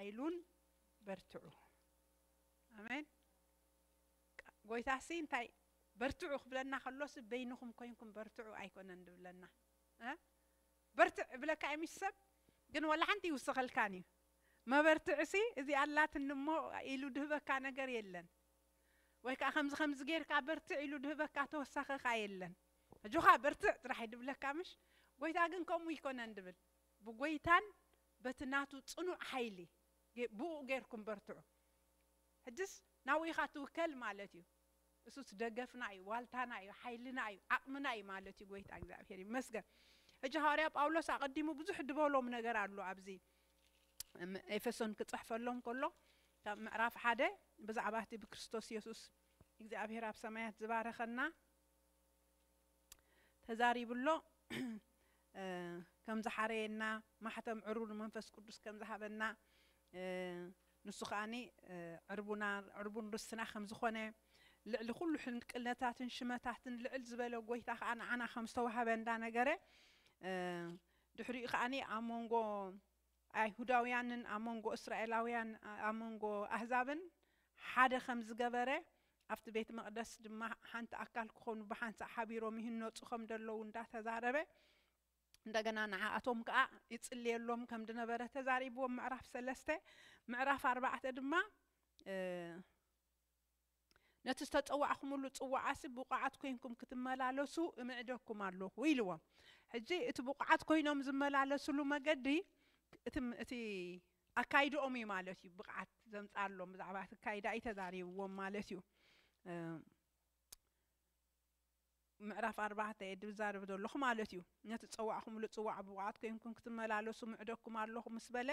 ኣይሉን በርትዑ ኣሜን ጎይታሲ እንታይ በርትዑ ክብለና ከሎሲ በይንኹም ኮይንኩም በርትዑ ኣይኮነን ድብለና እ በርትዕ እብለካ እዩ ምስ ሰብ ግን ወላ ሓንቲ ይውስኸልካን እዩ መበርትዕሲ እዚ ኣላትኒ እሞ ኢሉ ድህበካ ነገር የለን ወይ ከዓ ከምዚ ከምዚ ጌርካ በርትዕ ኢሉ ድህበካ ተወሳኸኻ የለን ኣጆኻ በርትዕ ጥራሕ ድብለካ ምሽ ጎይታ ግን ከምኡ ይኮነን ድብል ብጎይታን በቲ ናቱ ጽኑዕ ሓይሊ ብእኡ ጌርኩም በርትዑ። ሕጅስ ናብኡ ኢኻ ትውከል ማለት እዩ። እሱስ ደገፍና እዩ፣ ዋልታና እዩ፣ ሓይልና እዩ፣ ዓቕምና እዩ ማለት እዩ። ጎይታ እግዚኣብሄር ይመስገን። ሕጂ ሃዋርያ ጳውሎስ ኣቐዲሙ ብዙሕ ድበሎም ነገር ኣሎ ኣብዚ ኤፌሶን ክጽሕፈሎም ከሎ ካብ ምዕራፍ ሓደ ብዛዕባ እቲ ብክርስቶስ የሱስ እግዚኣብሄር ኣብ ሰማያት ዝባረኸና ተዛሪቡ ኣሎ ከም ዝሓረየና ማሕተም ዕሩር መንፈስ ቅዱስ ከም ዝሃበና ንሱ ከኣኒ ዕርቡና ዕርቡን ርስትና ከም ዝኾነ ልዕሊ ኩሉ ሕንቅነታትን ሽመታትን ልዕል ዝበለ ጎይታ ከዓ ንዓና ከም ዝተዋህበ እንዳነገረ ድሕሪኡ ከዓኒ ኣብ መንጎ ኣይሁዳውያንን ኣብ መንጎ እስራኤላውያን ኣብ መንጎ ኣህዛብን ሓደ ከም ዝገበረ ኣብቲ ቤት መቕደስ ድማ ሓንቲ ኣካል ክኾኑ ብሓንሳእ ሓቢሮም ይህነጹ ከም ደለዉ እንዳ ተዛረበ እንደገና ንዓኣቶም ከኣ ይጽልየሎም ከም ድነበረ ተዛሪብዎም ምዕራፍ ሰለስተ ምዕራፍ ኣርባዕተ ድማ ነቲ ዝተጸዋዕኩምሉ ጽዋዓሲ ብቑዓት ኮይንኩም ክትመላለሱ እምዕደኩም ኣሎኹ ኢልዎም ሕጂ እቲ ብቑዓት ኮይኖም ዝመላለስሉ መገዲ እቲ ኣካይድኦም እዩ ማለት እዩ ብቕዓት ዘምጻኣሎም ብዛዕባ እቲ ኣካይዳ እዩ ተዛሪብዎም ማለት እዩ ምዕራፍ ኣርባዕተ እየ ድዛረብ ዘለኹ ማለት እዩ ነቲ ፀዋዕኹምሉ ፅዋዕ ብብቕዓት ኮይንኩም ክትመላለሱ ምዕደኩም ኣለኹ ምስ በለ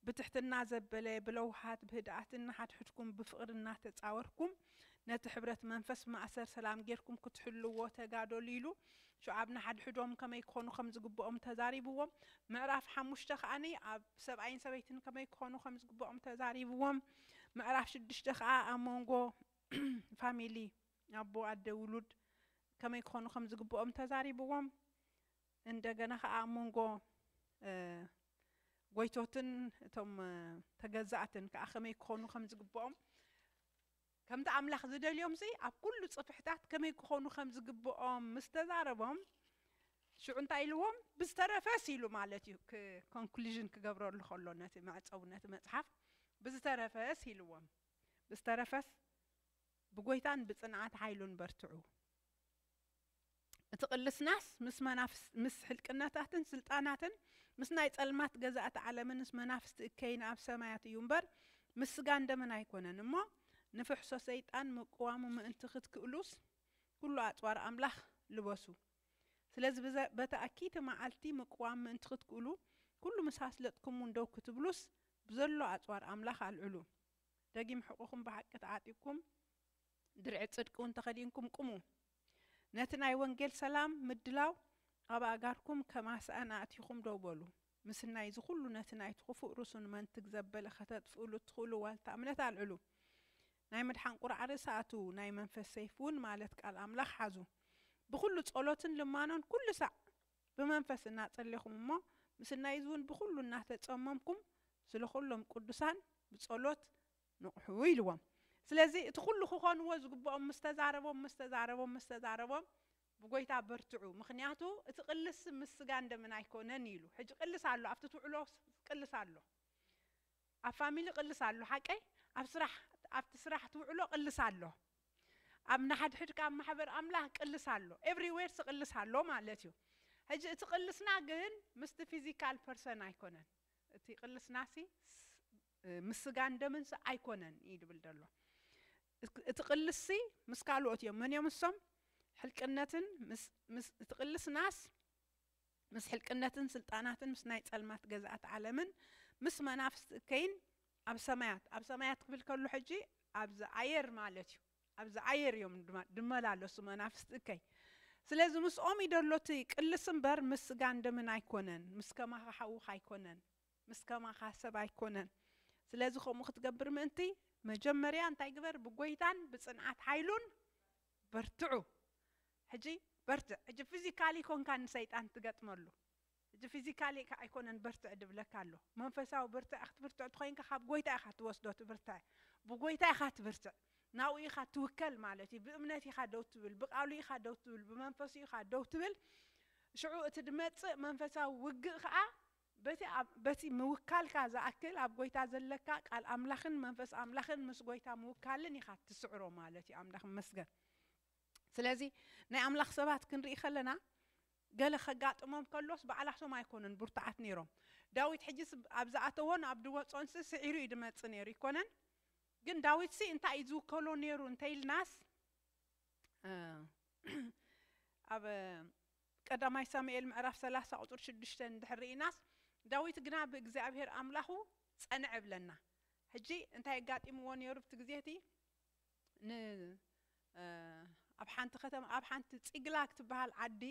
ብትሕትና ዘበለ ብለውሃት ብህድኣትን ንሓድሕድኩም ብፍቕሪ እናተፃወርኩም ነቲ ሕብረት መንፈስ ማእሰር ሰላም ጌርኩም ክትሕልዎ ተጋደሉ ኢሉ ሹዓብ ንሓድሕዶም ከመይ ክኾኑ ከም ዝግብኦም ተዛሪብዎም ምዕራፍ ሓሙሽተ ከኣ ኣብ ሰብኣይን ሰበይትን ከመይ ክኾኑ ከም ዝግብኦም ተዛሪብዎም ምዕራፍ ሽዱሽተ ከኣ ኣብ መንጎ ፋሚሊ ኣቦ ኣደ ውሉድ ከመይ ክኾኑ ከም ዝግብኦም ተዛሪብዎም እንደገና ከኣ ኣብ መንጎ ጎይቶትን እቶም ተገዛእትን ከኣ ከመይ ክኾኑ ከም ዝግብኦም ከምቲ ኣምላኽ ዚደልዮምሲ፣ ኣብ ኵሉ ጽፍሕታት ከመይ ኪዀኑ ኸም ዚግብኦም ምስ ተዛረቦም፣ ሽዑ እንታይ ኢልዎም? ብዝተረፈስ ኢሉ ማለት እዩ፣ ክ Conclusion ኪገብረሉ ኸሎ ነቲ መዕጸዊ ነቲ መጽሓፍ፣ ብዝተረፈስ ኢልዎም፣ ብዝተረፈስ ብጐይታን ብጽንዓት ሓይሉን በርትዑ። እቲ ቅልስናስ ምስ መናፍስት ምስ ሕልቅነታትን ስልጣናትን ምስ ናይ ጸልማት ገዛእቲ ዓለምን ምስ መናፍስቲ እከይን ኣብ ሰማያት እዩ እምበር ምስ ስጋን ደምን ኣይኮነን እሞ ንፍሕሶ ሰይጣን ምቅዋሙ ምእንቲ ክትክእሉስ ኩሉ ኣጽዋር ኣምላኽ ልበሱ ስለዚ ብዘ በታ እክይቲ መዓልቲ ምቅዋም ምእንቲ ክትክእሉ ኩሉ ምስ ኣስለጥኩምውን ደው ክትብሉስ ብዘሎ ኣጽዋር ኣምላኽ ኣልዕሉ ደጊም ሕቁኹም ብሓቂ ተዓጢቅኩም ድርዒ ጽድቂ እውን ተኸዲንኩም ቁሙ። ነቲ ናይ ወንጌል ሰላም ምድላው ኣብ ኣእጋርኩም ከም ኣስኣን ኣእቲኹም ደው በሉ። ምስናይ እዚ ኩሉ ነቲ ናይቲ ክፉእ ርሱን መንትግ ዘበለ ከተጥፍእሉ እትኽእሉ ዋልታ እምነት ኣልዕሉ። ናይ ምድሓን ቁርዓ ርእሲ ኣእትዉ፣ ናይ መንፈስ ሰይፊ እውን ማለት ቃል ኣምላኽ ሓዙ። ብኹሉ ጸሎትን ልማኖን ኩሉ ሳዕ ብመንፈስ እናጸሌኹም እሞ ምስናይ እዚ እውን ብኹሉ እናተጸመምኩም ስለ ኩሎም ቅዱሳን ብጸሎት ንቕሑ ኢልዎም። ስለዚ እቲ ኩሉ ክኾንዎ ዝግብኦም ምስ ተዛረቦም ምስ ተዛረቦም ምስ ተዛረቦም ብጎይታ በርትዑ ምኽንያቱ እቲ ቅልስ ምስ ስጋን ደምን ኣይኮነን ኢሉ። ሕጂ ቅልስ ኣሎ ኣብቲ ትውዕሎ ቅልስ ኣሎ ኣብ ፋሚሊ ቅልስ ኣሎ ሓቀይ ኣብ ስራሕ ኣብቲ ስራሕ ትውዕሎ ቅልስ ኣሎ ኣብ ናሓድሕድካ ኣብ ማሕበር ኣምላኽ ቅልስ ኣሎ ኤቭሪ ዌርስ ቅልስ ኣሎ ማለት እዩ። ሕጂ እቲ ቅልስና ግን ምስቲ ፊዚካል ፐርሰን ኣይኮነን እቲ ቅልስናሲ ምስ ስጋን ደምንሲ ኣይኮነን እዩ ድብል ደሎ እቲ ቅልስሲ ምስ ካልኦት እዮም መን እዮም ንሶም ሕልቅነትን ምስ እቲ ቅልስናስ ምስ ሕልቅነትን ስልጣናትን ምስ ናይ ጸልማት ገዛእት ዓለምን ምስ መናፍስቲ እከይን ኣብ ሰማያት ኣብ ሰማያት ክብል ከሎ ሕጂ ኣብዚ ኣየር ማለት እዩ ኣብዚ ኣየር እዮም ድማ ድመላለሱ መናፍስቲ እከይ ስለዚ ምስኦም ይደሎ እቲ ቅልስ እምበር ምስ ስጋን ደምን ኣይኮነን ምስ ከማኻ ሓውኻ ኣይኮነን ምስ ከማኻ ሰብ ኣይኮነን ስለዚ ከምኡ ክትገብር ምእንቲ መጀመርያ እንታይ ግበር ብጎይታን ብጽንዓት ሓይሉን በርትዑ ሕጂ በርትዕ ሕጂ ፊዚካሊ ኮንካ ንሰይጣን ትገጥመሉ ሕጂ ፊዚካሊ ኣይኮነን በርትዕ ድብለካ ኣሎ መንፈሳዊ ብርትዐ ክትብርትዕ ትኾይንካ ካብ ጎይታ ኢኻ ትወስዶ እቲ ብርትዐ ብጎይታ ኢኻ ትብርትዕ ናብኡ ኢኻ ትውከል ማለት እዩ ብእምነት ኢኻ ደው ትብል ብቃሉ ኢኻ ደው ትብል ብመንፈሱ ኢኻ ደው ትብል ሽዑ እቲ ድመጽእ መንፈሳዊ ውግእ ከኣ በቲ ኣብ በቲ ምውካልካ ዝኣክል ኣብ ጎይታ ዘለካ ቃል ኣምላኽን መንፈስ ኣምላኽን ምስ ጎይታ ምውካልን ኢኻ ትስዕሮ ማለት እዩ ኣምላኽ ይመስገን ስለዚ ናይ ኣምላኽ ሰባት ክንርኢ ከለና ገለ ከጋጥሞም ከሎስ ባዕላቶም ኣይኮኑን ብርቱዓት ነይሮም ዳዊት ሕጂስ ኣብ ዝኣተዎን ኣብ ዝወጾንሲ ስዒሩ እዩ ድመጽእ ነይሩ ይኮነን ግን ዳዊትሲ እንታይ እዩ ዝውከሎ ነይሩ እንተኢልናስ ኣብ ቀዳማይ ሳሙኤል ምዕራፍ ሰላሳ ቁጽሪ ሽዱሽተ እንድሕር ርኢናስ ዳዊት ግና ብእግዚኣብሄር ኣምላኹ ጸንዐ እብለና ሕጂ እንታይ ኣጋጢምዎ ኔሩ ኣብቲ ግዜ እቲ ን ኣብ ሓንቲ ከተማ ኣብ ሓንቲ ጺግላግ ትብሃል ዓዲ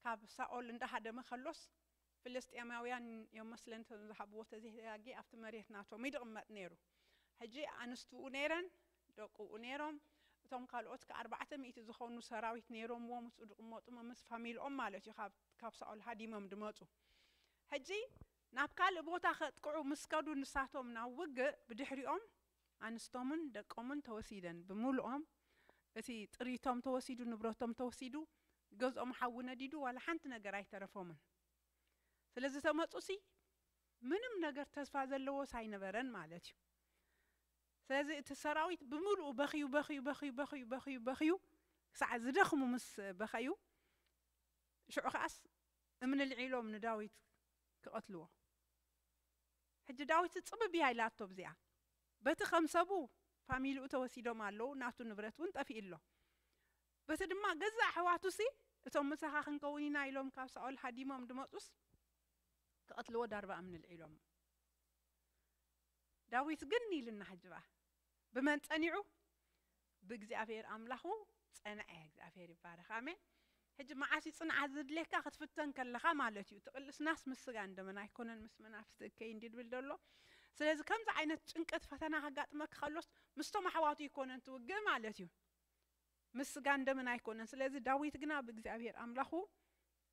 ካብ ሳኦል እንዳሃደመ ከሎስ ፍልስጤማውያን እዮም መስለኒ እቶም ዝሃብዎ ተዘይተጋግየ ኣብቲ መሬት ናቶም እዩ ድቕመጥ ነይሩ ሕጂ ኣንስቱኡ ነይረን ደቁኡ ነይሮም እቶም ካልኦት ከኣ ኣርባዕተ ሚእቲ ዝኾኑ ሰራዊት ነይሮምዎ ምስኡ ድቕመጡ መምስ ፋሚልኦም ማለት እዩ ካብ ካብ ሳኦል ሃዲሞም ድመጹ ሕጂ ናብ ካልእ ቦታ ከጥቅዑ ምስ ከዱ ንሳቶም ናብ ውግእ ብድሕሪኦም ኣንስቶምን ደቆምን ተወሲደን ብምሉኦም እቲ ጥሪቶም ተወሲዱ ንብረቶም ተወሲዱ ገዝኦም ሓዊ ነዲዱ ዋላ ሓንቲ ነገር ኣይተረፎምን ስለ ዝተመጹሲ ምንም ነገር ተስፋ ዘለዎስ ኣይነበረን ማለት እዩ ስለዚ እቲ ሰራዊት ብምሉኡ በኽዩ በኽዩ በኽዩ በኽዩ በኽዩ በኽዩ ክሳዕ ዝደኽሙ ምስ በኸዩ ሽዑ ከኣስ እምኒ ልዒሎም ንዳዊት ክቐትልዎ ሕጂ ዳዊት ጽብብ እያ ኢላቶ ብዚኣ በቲ ከም ሰቡ ፋሚሊኡ ተወሲዶም ኣለዉ ናቱ ንብረት ውን ጠፊኡ ኣሎ በቲ ድማ ገዛእ ኣሕዋቱሲ እቶም ምሳኻ ክንከውን ኢና ኢሎም ካብ ሳኦል ሃዲሞም ድመጹስ ክቀትልዎ ዳርባ እምኒ ኣልዒሎሞ ዳዊት ግን ኢልና ሕጂ ባእ ብመን ጸኒዑ ብእግዚኣብሄር ኣምላኹ ጸንዐ። እግዚኣብሄር ይባረኽ ኣሜን። ሕጂ መዓስ እዩ ጽንዓት ዝድሌካ ክትፍተን ከለኻ ማለት እዩ። እቲ ቅልስናስ ምስ ስጋን ደምን ኣይኮነን ምስ መናፍስቲ እከይ እንድዩ ድብል ደሎ። ስለዚ ከምዚ ዓይነት ጭንቀት ፈተና ከጋጥመካ ከሎስ ምስቶም ኣሕዋቱ ኣይኮነን ትውግእ ማለት እዩ። ምስ ስጋን ደምን ኣይኮነን። ስለዚ ዳዊት ግና ብእግዚኣብሄር ኣምላኹ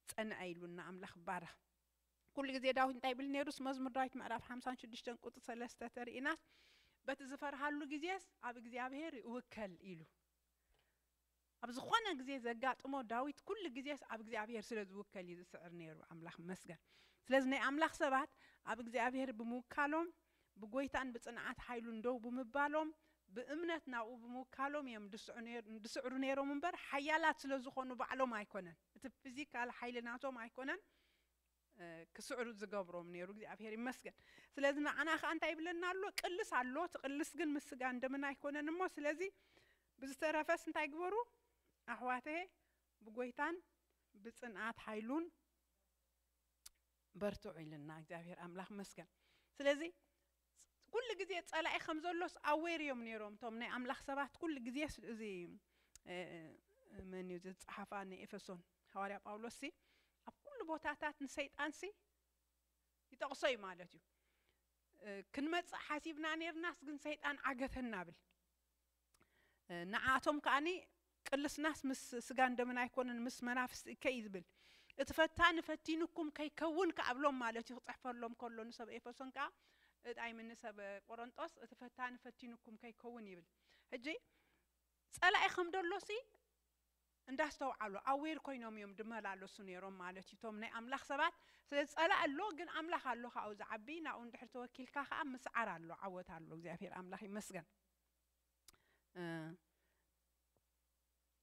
ጸንዐ ኢሉና ኣምላኽ ይባረኽ። ኩሉ ግዜ ዳዊት እንታይ ይብል ነይሩስ መዝሙር ዳዊት ምዕራፍ ሓምሳን ሽዱሽተን ቁፅሪ ሰለስተ ተርእናስ በቲ ዝፈርሃሉ ግዜስ ኣብ እግዚኣብሄር ይእውከል ኢሉ ኣብ ዝኾነ ግዜ ዘጋጥሞ ዳዊት ኩሉ ግዜስ ኣብ እግዚኣብሄር ስለ ዝውከል እዩ ዝስዕር ነይሩ ኣምላኽ መስገን ስለዚ ናይ ኣምላኽ ሰባት ኣብ እግዚኣብሄር ብምውካሎም ብጎይታን ብፅንዓት ሓይሉን ደው ብምባሎም ብእምነት ናብኡ ብምውካሎም እዮም ድስዕሩ ነይሮም እምበር ሓያላት ስለ ዝኾኑ ባዕሎም ኣይኮነን እቲ ፊዚካል ሓይሊ ናቶም ኣይኮነን ክስዕሩ ዝገብሮም ነይሩ እግዚኣብሔር ይመስገን ስለዚ ንዓና ከኣ እንታይ ይብለና ኣሎ ቅልስ ኣሎ እቲ ቅልስ ግን ምስ ስጋን ደምን ኣይኮነን እሞ ስለዚ ብዝተረፈስ እንታይ ግበሩ ኣሕዋተየ ብጎይታን ብጽንኣት ሓይሉን በርትዑ ኢልና እግዚኣብሔር ኣምላኽ መስገን ስለዚ ኩሉ ግዜ ጸላኢ ከም ዘሎስ ኣዌር ኢዮም ኔሮም እቶም ናይ ኣምላኽ ሰባት ኩሉ ግዜስ እዚ መን ኢዩ እዚ ዝጸሓፋ ንኤፈሶን ሃዋርያ ጳውሎስ ሲ ኣብ ኩሉ ቦታታት ንሰይጣን ሲ ይጠቕሶ ኢዩ ማለት ኢዩ ክንመጽእ ሓሲብና ኔርናስ ግን ሰይጣን ዓገተና ብል ንዓኣቶም ከኣ ቅልስናስ ምስ ስጋን ደምን ኣይኮነን ምስ መናፍስቲ እከይ እዩ ዝብል። እቲ ፈታኒ ፈቲኑኩም ከይከውን ከኣ እብሎም ማለት እዩ ክጽሕፈሎም ከሎ ንሰብ ኤፈሶን ከኣ እይ ምን ንሰብ ቆረንጦስ እቲ ፈታኒ ፈቲኑኩም ከይከውን ይብል ሕጂ ጸላኢ ከም ደሎሲ እንዳስተውዓሉ ኣዌር ኮይኖም እዮም ድመላለሱ ነይሮም ማለት እዩ እቶም ናይ ኣምላኽ ሰባት ስለ ጸላኢ ኣሎ ግን ኣምላኽ ኣሎ ካብኡ ዝዓቢ ናብኡ እንድሕር ተወኪልካ ከኣ ምስዓር ኣሎ ዓወት ኣሎ እግዚኣብሔር ኣምላኽ ይመስገን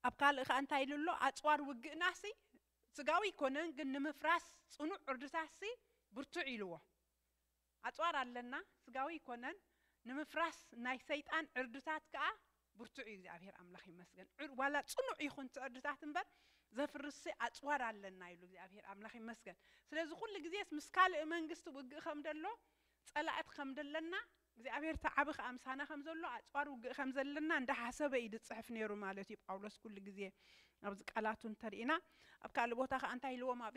ኣብ ካልእ ከኣ እንታይ ኢሉ ኣሎ ኣጽዋር ውግእናሲ ስጋዊ ኣይኮነን ግን ንምፍራስ ጽኑዕ ዕርድታትሲ ብርቱዕ ኢልዎ ኣጽዋር ኣለና ስጋዊ ኣይኮነን ንምፍራስ ናይ ሰይጣን ዕርድታት ከኣ ብርቱዕ እዩ እግዚኣብሔር ኣምላኽ ይመስገን ዋላ ጽኑዕ ይኹን እቲ ዕርድታት እምበር ዘፍርስ ኣጽዋር ኣለና ኢሉ እግዚኣብሔር ኣምላኽ ይመስገን ስለዚ ኩሉ ግዜስ ምስ ካልእ መንግስቲ ውግእ ከም ደሎ ጸላእት ከም ደለና እግዚኣብሔር እቲ ዓቢ ከኣ ምሳና ከም ዘሎ ኣጽዋር ውግእ ከም ዘለና እንዳ ሓሰበ እዩ ዝጽሕፍ ኔሩ ማለት እዩ ጳውሎስ ኩሉ ግዜ ኣብዚ ቃላቱ እንተ ርኢና ኣብ ካልእ ቦታ ከኣ እንታይ ኢልዎም ኣብ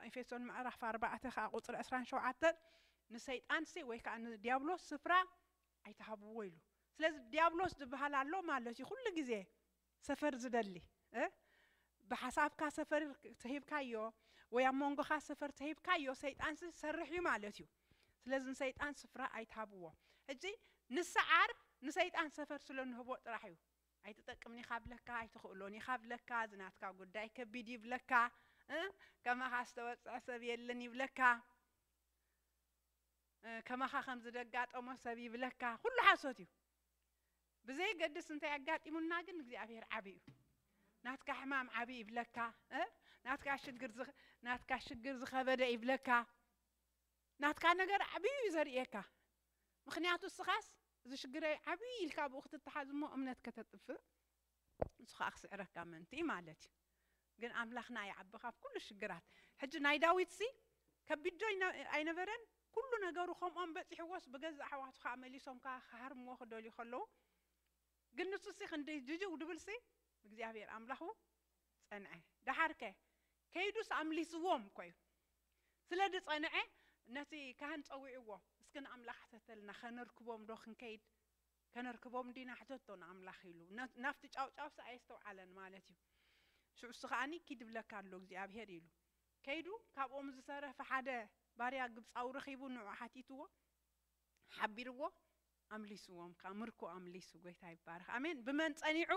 ኤፌሶን ምዕራፍ ኣርባዕተ ከኣ ቁጽሪ ዕስራን ሸውዓተን ንሰይጣንሲ ወይ ከኣ ንድያብሎስ ስፍራ ኣይትሃብዎ ኢሉ ስለዚ ድያብሎስ ዝብሃል ኣሎ ማለት እዩ ኩሉ ግዜ ሰፈር ዝደሊ እ ብሓሳብካ ሰፈር ተሂብካዮ ወይ ኣብ መንጎኻ ሰፈር ተሂብካዮ ሰይጣንሲ ዝሰርሕ እዩ ማለት እዩ ስለዚ ንሰይጣን ስፍራ ኣይትሃብዎ ሕጂ ንስዓር ንሰይጣን ሰፈር ስለ ንህቦ ጥራሕ እዩ ኣይትጠቅምን ኢኻ ብለካ ኣይትኽእሎን ኢኻ ብለካ እዚ ናትካ ጉዳይ ከቢድ እዩ ብለካ እ ከማኻ ዝተወጽዐ ሰብ የለን ይብለካ እ ከማኻ ከም ዝደጋጠሞ ሰብ ይብለካ ኩሉ ሓሶት እዩ ብዘየገድስ እንታይ ኣጋጢሙና ግን እግዚኣብሔር ዓብይ እዩ ናትካ ሕማም ዓብይ ይብለካ እ? ናትካ ሽግር ዝኸ- ናትካ ሽግር ዝኸበደ ይብለካ ናትካ ነገር ዓብይ እዩ ዘርእየካ ምክንያቱ እስኻስ እዚ ሽግረይ ዓብይ ኢልካ ብኡ ክትተሓዝ እሞ እምነት ከተጥፍእ ንሱ ከኣ ክስዕረካ ምእንቲ እዩ ማለት እዩ ግን ኣምላክና ይዓቢ ካብ ኩሉ ሽግራት ሕጂ ናይ ዳዊትሲ ከቢድ ዶ ኣይነበረን ኩሉ ነገሩ ከምኦም በጺሕዎስ ብገዛ ኣሕዋቱ ከኣ መሊሶም ከኣ ክሃርምዎ ክደልዩ ከለዉ ግን ንሱሲ ክንደይ ድድው ድብልሲ እግዚኣብሔር ኣምላኩ ጸንዐ ደሓርከ ከይዱስ ኣምሊስዎም እኮ እዩ ስለ ድጸንዐ ነቲ ካህን ጸዊዕዎ እስኪ ንኣምላክ ሕተተልና ከነርክቦም ዶ ክንከይድ ከነርክቦም ዲና ሕተቶ ንኣምላኽ ኢሉ ናብቲ ጫውጫውሳ ኣየስተውዓለን ማለት እዩ ሽዑ እሱ ከኣ ኪድ ይብለካ ኣሎ እግዚኣብሄር ኢሉ ከይዱ ካብኦም ዝተረፈ ሓደ ባርያ ግብጻዊ ረኺቡ ንዑ ሓቲትዎ ሓቢርዎ ኣምሊስዎም ከኣ ምርኮ ኣምሊሱ ጎይታ ይባረኽ ኣሜን ብመን ጸኒዑ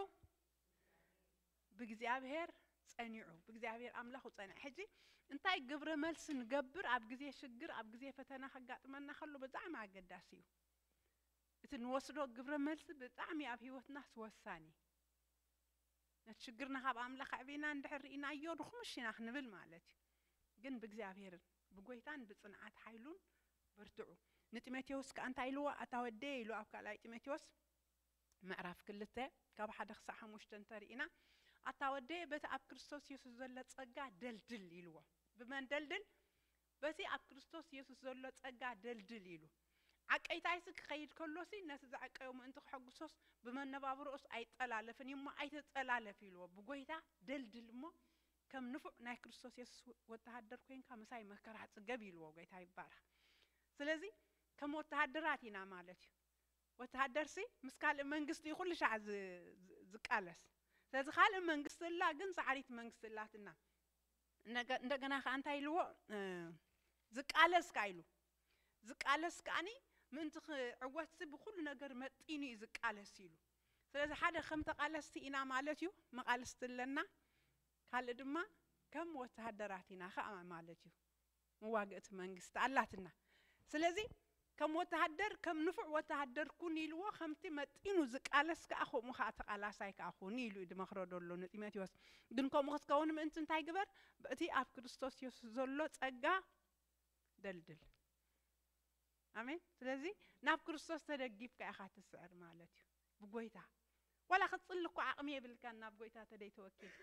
ብእግዚኣብሄር ጸኒዑ ብእግዚኣብሔር ኣምላኹ ጸንዐ ሕጂ እንታይ ግብረ መልሲ ንገብር ኣብ ግዜ ሽግር ኣብ ግዜ ፈተና ከጋጥመና ከሎ ብጣዕሚ ኣገዳሲ እዩ እቲ ንወስዶ ግብረ መልሲ ብጣዕሚ ኣብ ሂወትናስ ወሳኒ ነቲ ሽግርና ካብ ኣምላኽ ኣዕቢና እንድሕር ርኢናዮ ድኹምሽ ኢና ክንብል ማለት እዩ ግን ብእግዚኣብሔርን ብጎይታን ብጽንዓት ሓይሉን በርትዑ ንጢሞቴዎስ ከኣ እንታይ ኢልዎ ኣታ ወደየ ኢሉ ኣብ ካልኣይ ጢሞቴዎስ ምዕራፍ ክልተ ካብ ሓደ ክሳዕ ሓሙሽተ እንተርኢና ኣታ ወደየ በቲ ኣብ ክርስቶስ የሱስ ዘሎ ጸጋ ደልድል ኢልዎ ብመን ደልድል በቲ ኣብ ክርስቶስ የሱስ ዘሎ ጸጋ ደልድል ኢሉ። ዓቀይታይሲ ክኸይድ ከሎሲ ነቲ ዘዕቀዮ ምእንቲ ከሐጉሶስ ብመነባብሮኡስ ኣይጠላለፍን እዩ እሞ ኣይትጠላለፍ ኢልዎ። ብጐይታ ደልድል እሞ ከም ንፉዕ ናይ ክርስቶስ የሱስ ወተሃደር ኰይንካ ምሳይ መከራ ጽገብ ኢልዎ። ጐይታ ይባረኽ። ስለዚ ከም ወተሃደራት ኢና ማለት እዩ። ወተሃደርሲ ምስ ካልእ መንግስቲ እዩ ኩሉ ሻዕ ዝቃለስ። ስለዚ ካልእ መንግስቲ እላ ግን ጻዕሪት መንግስቲ እላትና። እንደገና ከኣ እንታይ ኢልዎ ዝቃለስ ከኣ ኢሉ ዝቃለስ ከኣኒ ምእንቲ ክዕወትሲ ብኩሉ ነገር መጢኑ እዩ ዝቃለስ ኢሉ ስለዚ ሓደ ከም ተቃለስቲ ኢና ማለት እዩ መቃልስቲ ኣለና ካልእ ድማ ከም ወተሃደራት ኢና ከኣ ማለት እዩ መዋግእቲ መንግስቲ ኣላትና ስለዚ ከም ወተሃደር ከም ንፉዕ ወተሃደር ኩን ኢልዎ ከምቲ መጢኑ ዝቃለስ ከኣ ከምኡ ከኣ ተቃላሳይ ከኣ ኩን ኢሉ እዩ ድመኽሮ ደሎ ንጢሞቴዎስ ግን ከምኡ ክትከውን ምእንቲ እንታይ ግበር በእቲ ኣብ ክርስቶስ የሱስ ዘሎ ጸጋ ደልድል ኣሜን ስለዚ ናብ ክርስቶስ ተደጊፍካ ኢኻ ትስዕር ማለት እዩ ብጎይታ ዋላ ክትጽሊ እኮ ዓቅሚ የብልካን ናብ ጎይታ ተደይ ተወኪልካ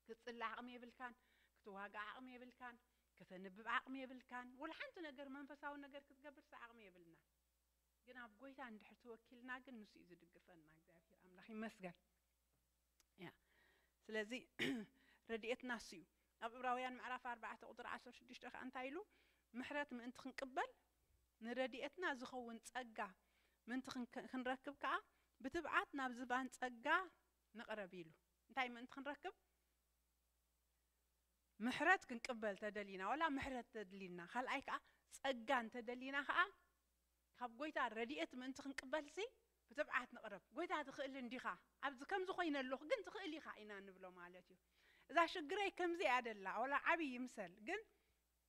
ክትጽሊ ዓቕሚ የብልካን፣ ክትዋጋእ ዓቕሚ የብልካን፣ ከተንብብ ዓቕሚ የብልካን፣ ወላ ሓንቲ ነገር መንፈሳዊ ነገር ክትገብርሲ ዓቕሚ የብልናን። ግን ኣብ ጎይታ እንድሕር ተወኪልና ግን ንሱ እዩ ዝድግፈና እግዚኣብሄር ኣምላኽ ይመስገን። ያ ስለዚ ረድኤትና እሱ እዩ። ኣብ ዕብራውያን ምዕራፍ ኣርባዕተ ቁጥሪ ዓሰርተ ሽዱሽተ ከዓ እንታይ ኢሉ ምሕረት ምእንቲ ክንቅበል ንረድኤትና ዝኸውን ጸጋ ምእንቲ ክንክ- ክንረክብ ከዓ ብትብዓት ናብ ዝባን ጸጋ ንቕረብ ኢሉ እንታይ ምእንቲ ክንረክብ ምሕረት ክንቅበል ተደሊና ዋላ ምሕረት ተድሊና ካልኣይ ከኣ ጸጋ እንተደሊና ከኣ ካብ ጎይታ ረድኤት ምእንቲ ክንቅበልሲ ብትብዓት ንቕረብ ጎይታ ትኽእል እንዲኻ ኣብዚ ከምዚ ኮይነ ኣለኹ ግን ትኽእል ኢኻ ኢና ንብሎ ማለት እዩ እዛ ሽግረይ ከምዚ እያ ደላ ዋላ ዓብይ ይምሰል ግን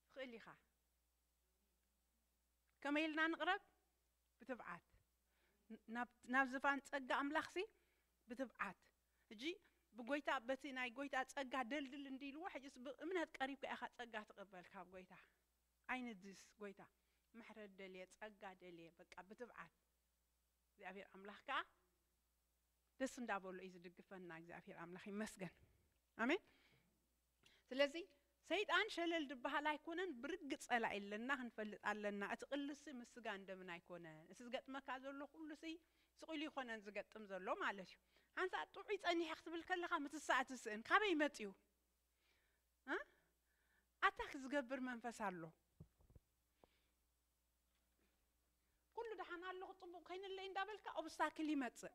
ትኽእል ኢኻ ከመይ ኢልና ንቕረብ? ብትብዓት። ናብ ዝፋን ጸጋ ኣምላኽሲ ብትብዓት። ሕጂ ብጐይታ በቲ ናይ ጐይታ ጸጋ ደልድል እንዲልዎ ሕጂስ ብእምነት ቀሪብካ ኢኻ ጸጋ ትቕበል ካብ ጐይታ። ኣይንድስ ጐይታ ምሕረት ደልየ ጸጋ ደልየ በቃ ብትብዓት። እግዚኣብሄር ኣምላኽ ከኣ ደስ እንዳበሎ እዩ ዝድግፈና። እግዚኣብሄር ኣምላኽ ይመስገን። ኣሜን። ስለዚ ሰይጣን ሸለል ድበሃል ኣይኮነን ብርግጽ ጸላኢ ኣለና ክንፈልጥ ኣለና እቲ ቅልሲ ምስ ስጋን ደምን ኣይኮነን እቲ ዝገጥመካ ዘሎ ኩሉሲ ስቅ ኢሉ ኣይኮነን ዝገጥም ዘሎ ማለት እዩ ሓንሳእ ጥዑይ ጸኒሐ ክትብል ከለካ ምትሳእ ትስእን ካበይ መጽዩ እ ኣታክ ዝገብር መንፈስ ኣሎ ኩሉ ደሓን ኣለኩ ጽቡቅ ኮይነለይ እንዳበልካ ኦብስታክል ይመጽእ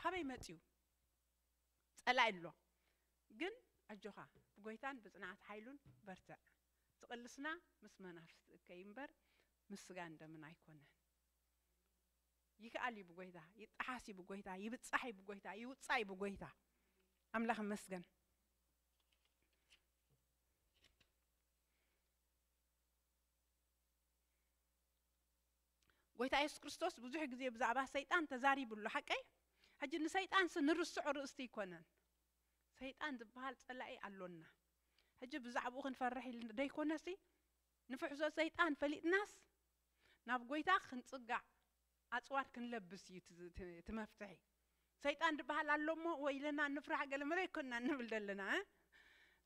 ካበይ መጽዩ ጸላኢ ኣሎ ግን ኣጆኻ ብጎይታን ብጽንዓት ሓይሉን በርትዕ ዝቅልስና ምስ መናፍስቲ እከይ እምበር ምስ ስጋን ደምን ኣይኮነን ይክኣል እዩ ብጎይታ ይጠሓስ እዩ ብጎይታ ይብጻሕ እዩ ብጎይታ ይውጻእ እዩ ብጎይታ ኣምላኽ ይመስገን ጎይታ የሱስ ክርስቶስ ብዙሕ ግዜ ብዛዕባ ሰይጣን ተዛሪቡ ኣሎ ሓቀይ ሕጂ ንሰይጣንሲ ንርስዖ ርእስቲ ኣይኮነን ሰይጣን ዝበሃል ጸላኢ ኣሎና ሕጂ ብዛዕባኡ ክንፈርሕ ኢል ደይኮነሲ ንፍሕሶ ሰይጣን ፈሊጥናስ ናብ ጎይታ ክንጽጋዕ ኣጽዋር ክንለብስ እዩ እቲ መፍትሒ ሰይጣን ድበሃል ኣሎ እሞ ወይለና ንፍራሕ ገለመለ ኣይኮናን ንብል ደለና እ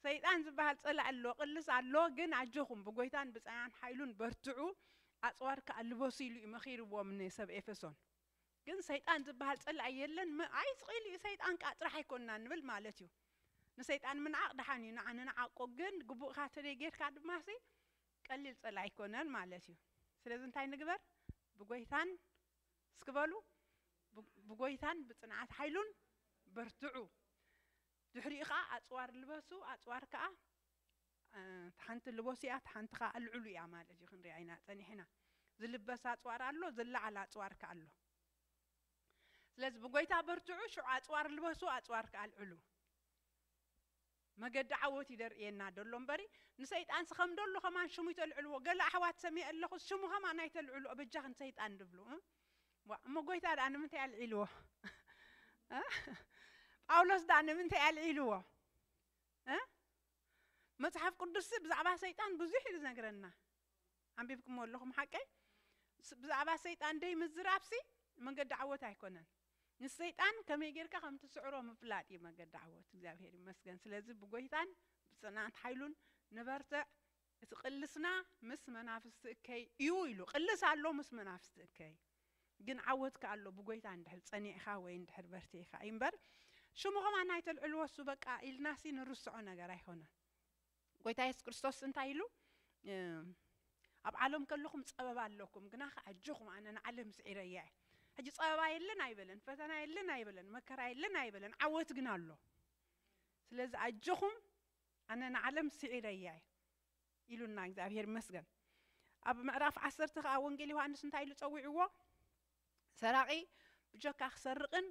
ሰይጣን ዝበሃል ጸላኢ ኣሎ ቅልስ ኣሎ ግን ኣጆኹም ብጎይታን ብጻናን ሓይሉን በርትዑ ኣጽዋር ከኣ ልበሱ ኢሉ እዩ መኺርዎም ንሰብ ኤፈሶን ግን ሰይጣን ዝበሃል ጸላኢ የለን ም ኣይስቂሉ እዩ ሰይጣን ከኣ ጥራሕ ኣይኮናን ንብል ማለት እዩ ንሰይጣን ምንዓቕ ደሓን እዩ ንዓ ንንዓቆ ግን ግቡእካ ተደይ ጌርካ ድማሲ ቀሊል ጸላኢ ኣይኮነን ማለት እዩ ስለዚ እንታይ ንግበር ብጎይታን እስኪ በሉ ብጐይታን ብጽንዓት ሓይሉን በርትዑ። ድሕሪኡ ከኣ ኣጽዋር ልበሱ፣ ኣጽዋር ከኣ እታ ሓንቲ ልበሱ እያ፣ እታ ሓንቲ ከኣ ኣልዕሉ እያ ማለት እዩ፣ ክንሪኣ ኢና ጸኒሕና። ዝልበስ ኣጽዋር ኣሎ፣ ዝለዓል ኣጽዋር ከኣ ኣሎ። ስለዚ ብጐይታ በርትዑ፣ ሽዑ ኣጽዋር ልበሱ፣ ኣጽዋር ከኣ ኣልዕሉ። መገዲ ዓወት እዩ ደርእየና ደሎ እምበሪ ንሰይጣንሲ ከም ደሎ ከማን ሽሙ ይተልዕልዎ ገለ ኣሕዋት ሰሚዐ ኣለኹስ ሽሙ ከማን ኣይተልዕልኦ በጃኺ ንሰይጣን ድብሉ እ ዋእ እሞ ጎይታ ድኣ ንምንታይ ኣልዒልዎ እ ጳውሎስ ድኣ ንምንታይ ኣልዒልዎ እ መጽሓፍ ቅዱስሲ ብዛዕባ ሰይጣን ብዙሕ እዩ ዝነግረና ኣንቢብክሞ ኣለኹም ሓቀይ ብዛዕባ ሰይጣን ደይ ምዝራብሲ መንገዲ ዓወት ኣይኮነን ንሰይጣን ከመይ ጌርካ ከም ትስዕሮ ምፍላጥ እዩ መገዲ ዓወት። እግዚኣብሔር ይመስገን ስለዚ ብጎይታን ብጽንዓት ሓይሉን ንበርትዕ እቲ ቅልስና ምስ መናፍስቲ እከይ እዩ ኢሉ ቅልስ ኣሎ ምስ መናፍስቲ እከይ ግን ዓወት ከ ኣሎ ብጎይታ እንድሕር ጸኒዕካ ወይ እንድሕር በርቲዕካ እዩ እምበር ሽሙ ከማን ኣይተልዕልዎ እሱ በቃ ኢልናሲ ንርስዖ ነገር ኣይኮነን። ጎይታ የሱስ ክርስቶስ እንታይ ኢሉ ኣብ ዓለም ከለኹም ጸበባ ኣለኩም ግና ከ ኣጆኹም ኣነ ንዓለም ስዒረያ እየ ሕጂ ጸበባ የለን ኣይበለን ፈተና የለን ኣይበለን መከራ የለን ኣይበለን ዓወት ግን ኣሎ ስለዚ ኣጆኹም ኣነ ንዓለም ስዒረያ እየ ኢሉና እግዚኣብሔር ይመስገን ኣብ ምዕራፍ ዓሰርተ ከዓ ወንጌል ዮሃንስ እንታይ ኢሉ ፀዊዕዎ ሰራቂ ብጀካ ክሰርቅን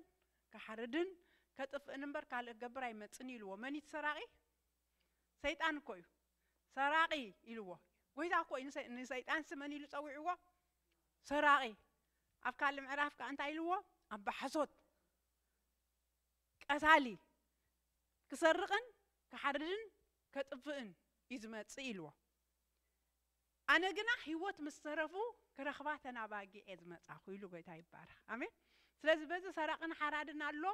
ክሓርድን ከጥፍእን እምበር ካልእ ክገብር ኣይመፅን ኢልዎ መን እቲ ሰራቂ ሰይጣን እኮ እዩ ሰራቂ ኢልዎ ጎይታ እኮ እዩ ንሰይጣን ስመን ኢሉ ጸዊዕዎ ሰራቂ ኣብ ካልእ ምዕራፍ ከኣ እንታይ ኢልዎ ኣብ ብሓሶት ቀታሊ ክሰርቅን ክሓርድን ከጥፍእን እዩ ዝመጽእ ኢልዎ ኣነ ግና ህይወት ምስ ዝተረፉ ክረኽባ ተናባጊ እየ ዝመፃኹ ኢሉ ጎይታ ይባረኽ ኣሜን ስለዚ በዚ ሰራቅን ሓራድን ኣሎ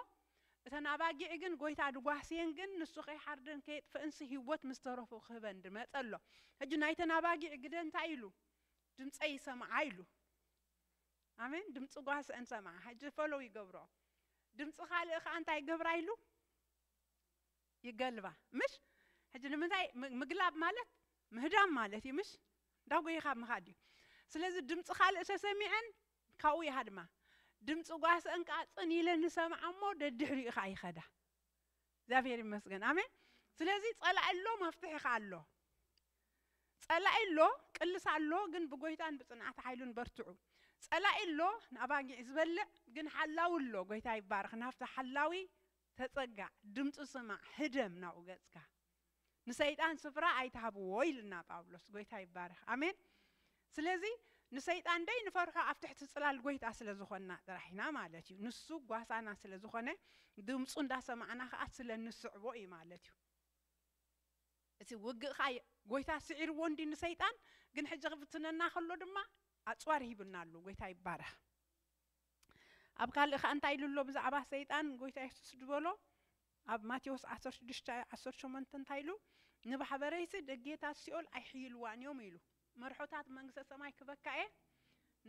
እተን ኣባጊዕ ግን ጎይታ ድጓስየን ግን ንሱ ከይሓርደን ከየጥፈእንሲ ህይወት ምስ ዝተረፉ ክህበን ድመፀ ኣሎ ሕጂ ናይተን ኣባጊዕ ግደ እንታይ ኢሉ ድምፀይ ይሰምዓ ኢሉ ኣሜን ድምፂ ጓስአን ሰምዓ ሕጂ ፈሎው ይገብሮ ድምፂ ካልእ ከዓ እንታይ ይገብራ ኢሉ ይገልባ ምሽ ሕጂ ንምንታይ ምግላብ ማለት ምህዳም ማለት እዩ ምሽ እንዳጎየኻ ምኻድ እዩ ስለዚ ድምጺ ካልእ ተሰሚዐን ካብኡ ይሃድማ ድምጺ ጓሰን ከኣ ጽን ኢለን ይሰምዓ እሞ ደድሕሪኡ ከኣ ይኸዳ እግዚኣብሔር ይመስገን ኣሜን ስለዚ ጸላኢ ኣሎ መፍትሒ ከኣ ኣሎ ጸላኢ ኣሎ ቅልሳ ኣሎ ግን ብጎይታን ብጽንዓት ሓይሉን በርትዑ ጸላኢ ኣሎ ንኣባጊዕ ዝበልዕ ግን ሓላዊ ኣሎ ጎይታ ይባረኽ ናብቲ ሓላዊ ተጸጋዕ ድምጹ ስማዕ ህደም ናብኡ ገጽካ። ንሰይጣን ስፍራ ኣይትሃብዎ ኢሉና ጳውሎስ ጎይታ ይባረክ ኣሜን ስለዚ ንሰይጣን ደይ ንፈርሖ ኣብ ትሕቲ ጽላል ጎይታ ስለ ዝኮና ጥራሕ ኢና ማለት እዩ ንሱ ጓሳና ስለ ዝኮነ ድምጹ እንዳ ሰማዕና ከኣ ስለ ንስዕቦ እዩ ማለት እዩ እቲ ውግእ ከኣ ጎይታ ስዒርዎ እንዲ ንሰይጣን ግን ሕጂ ክፍትነና ከሎ ድማ ኣጽዋር ሂብና ኣሉ ጎይታ ይባረክ ኣብ ካልእ ከኣ እንታይ ኢሉ ኣሎ ብዛዕባ ሰይጣን ጎይታ የሱስ ዝበሎ ኣብ ማቴዎስ ዓሰርተ ሽዱሽተ ዓሰርተ ሸሞንተ እንታይ ኢሉ ንባሕበረይሲ ደጌታት ሲኦል ኣይሕይልዋን እዮም ኢሉ መርሖታት መንግስተ ሰማይ ክበካ እየ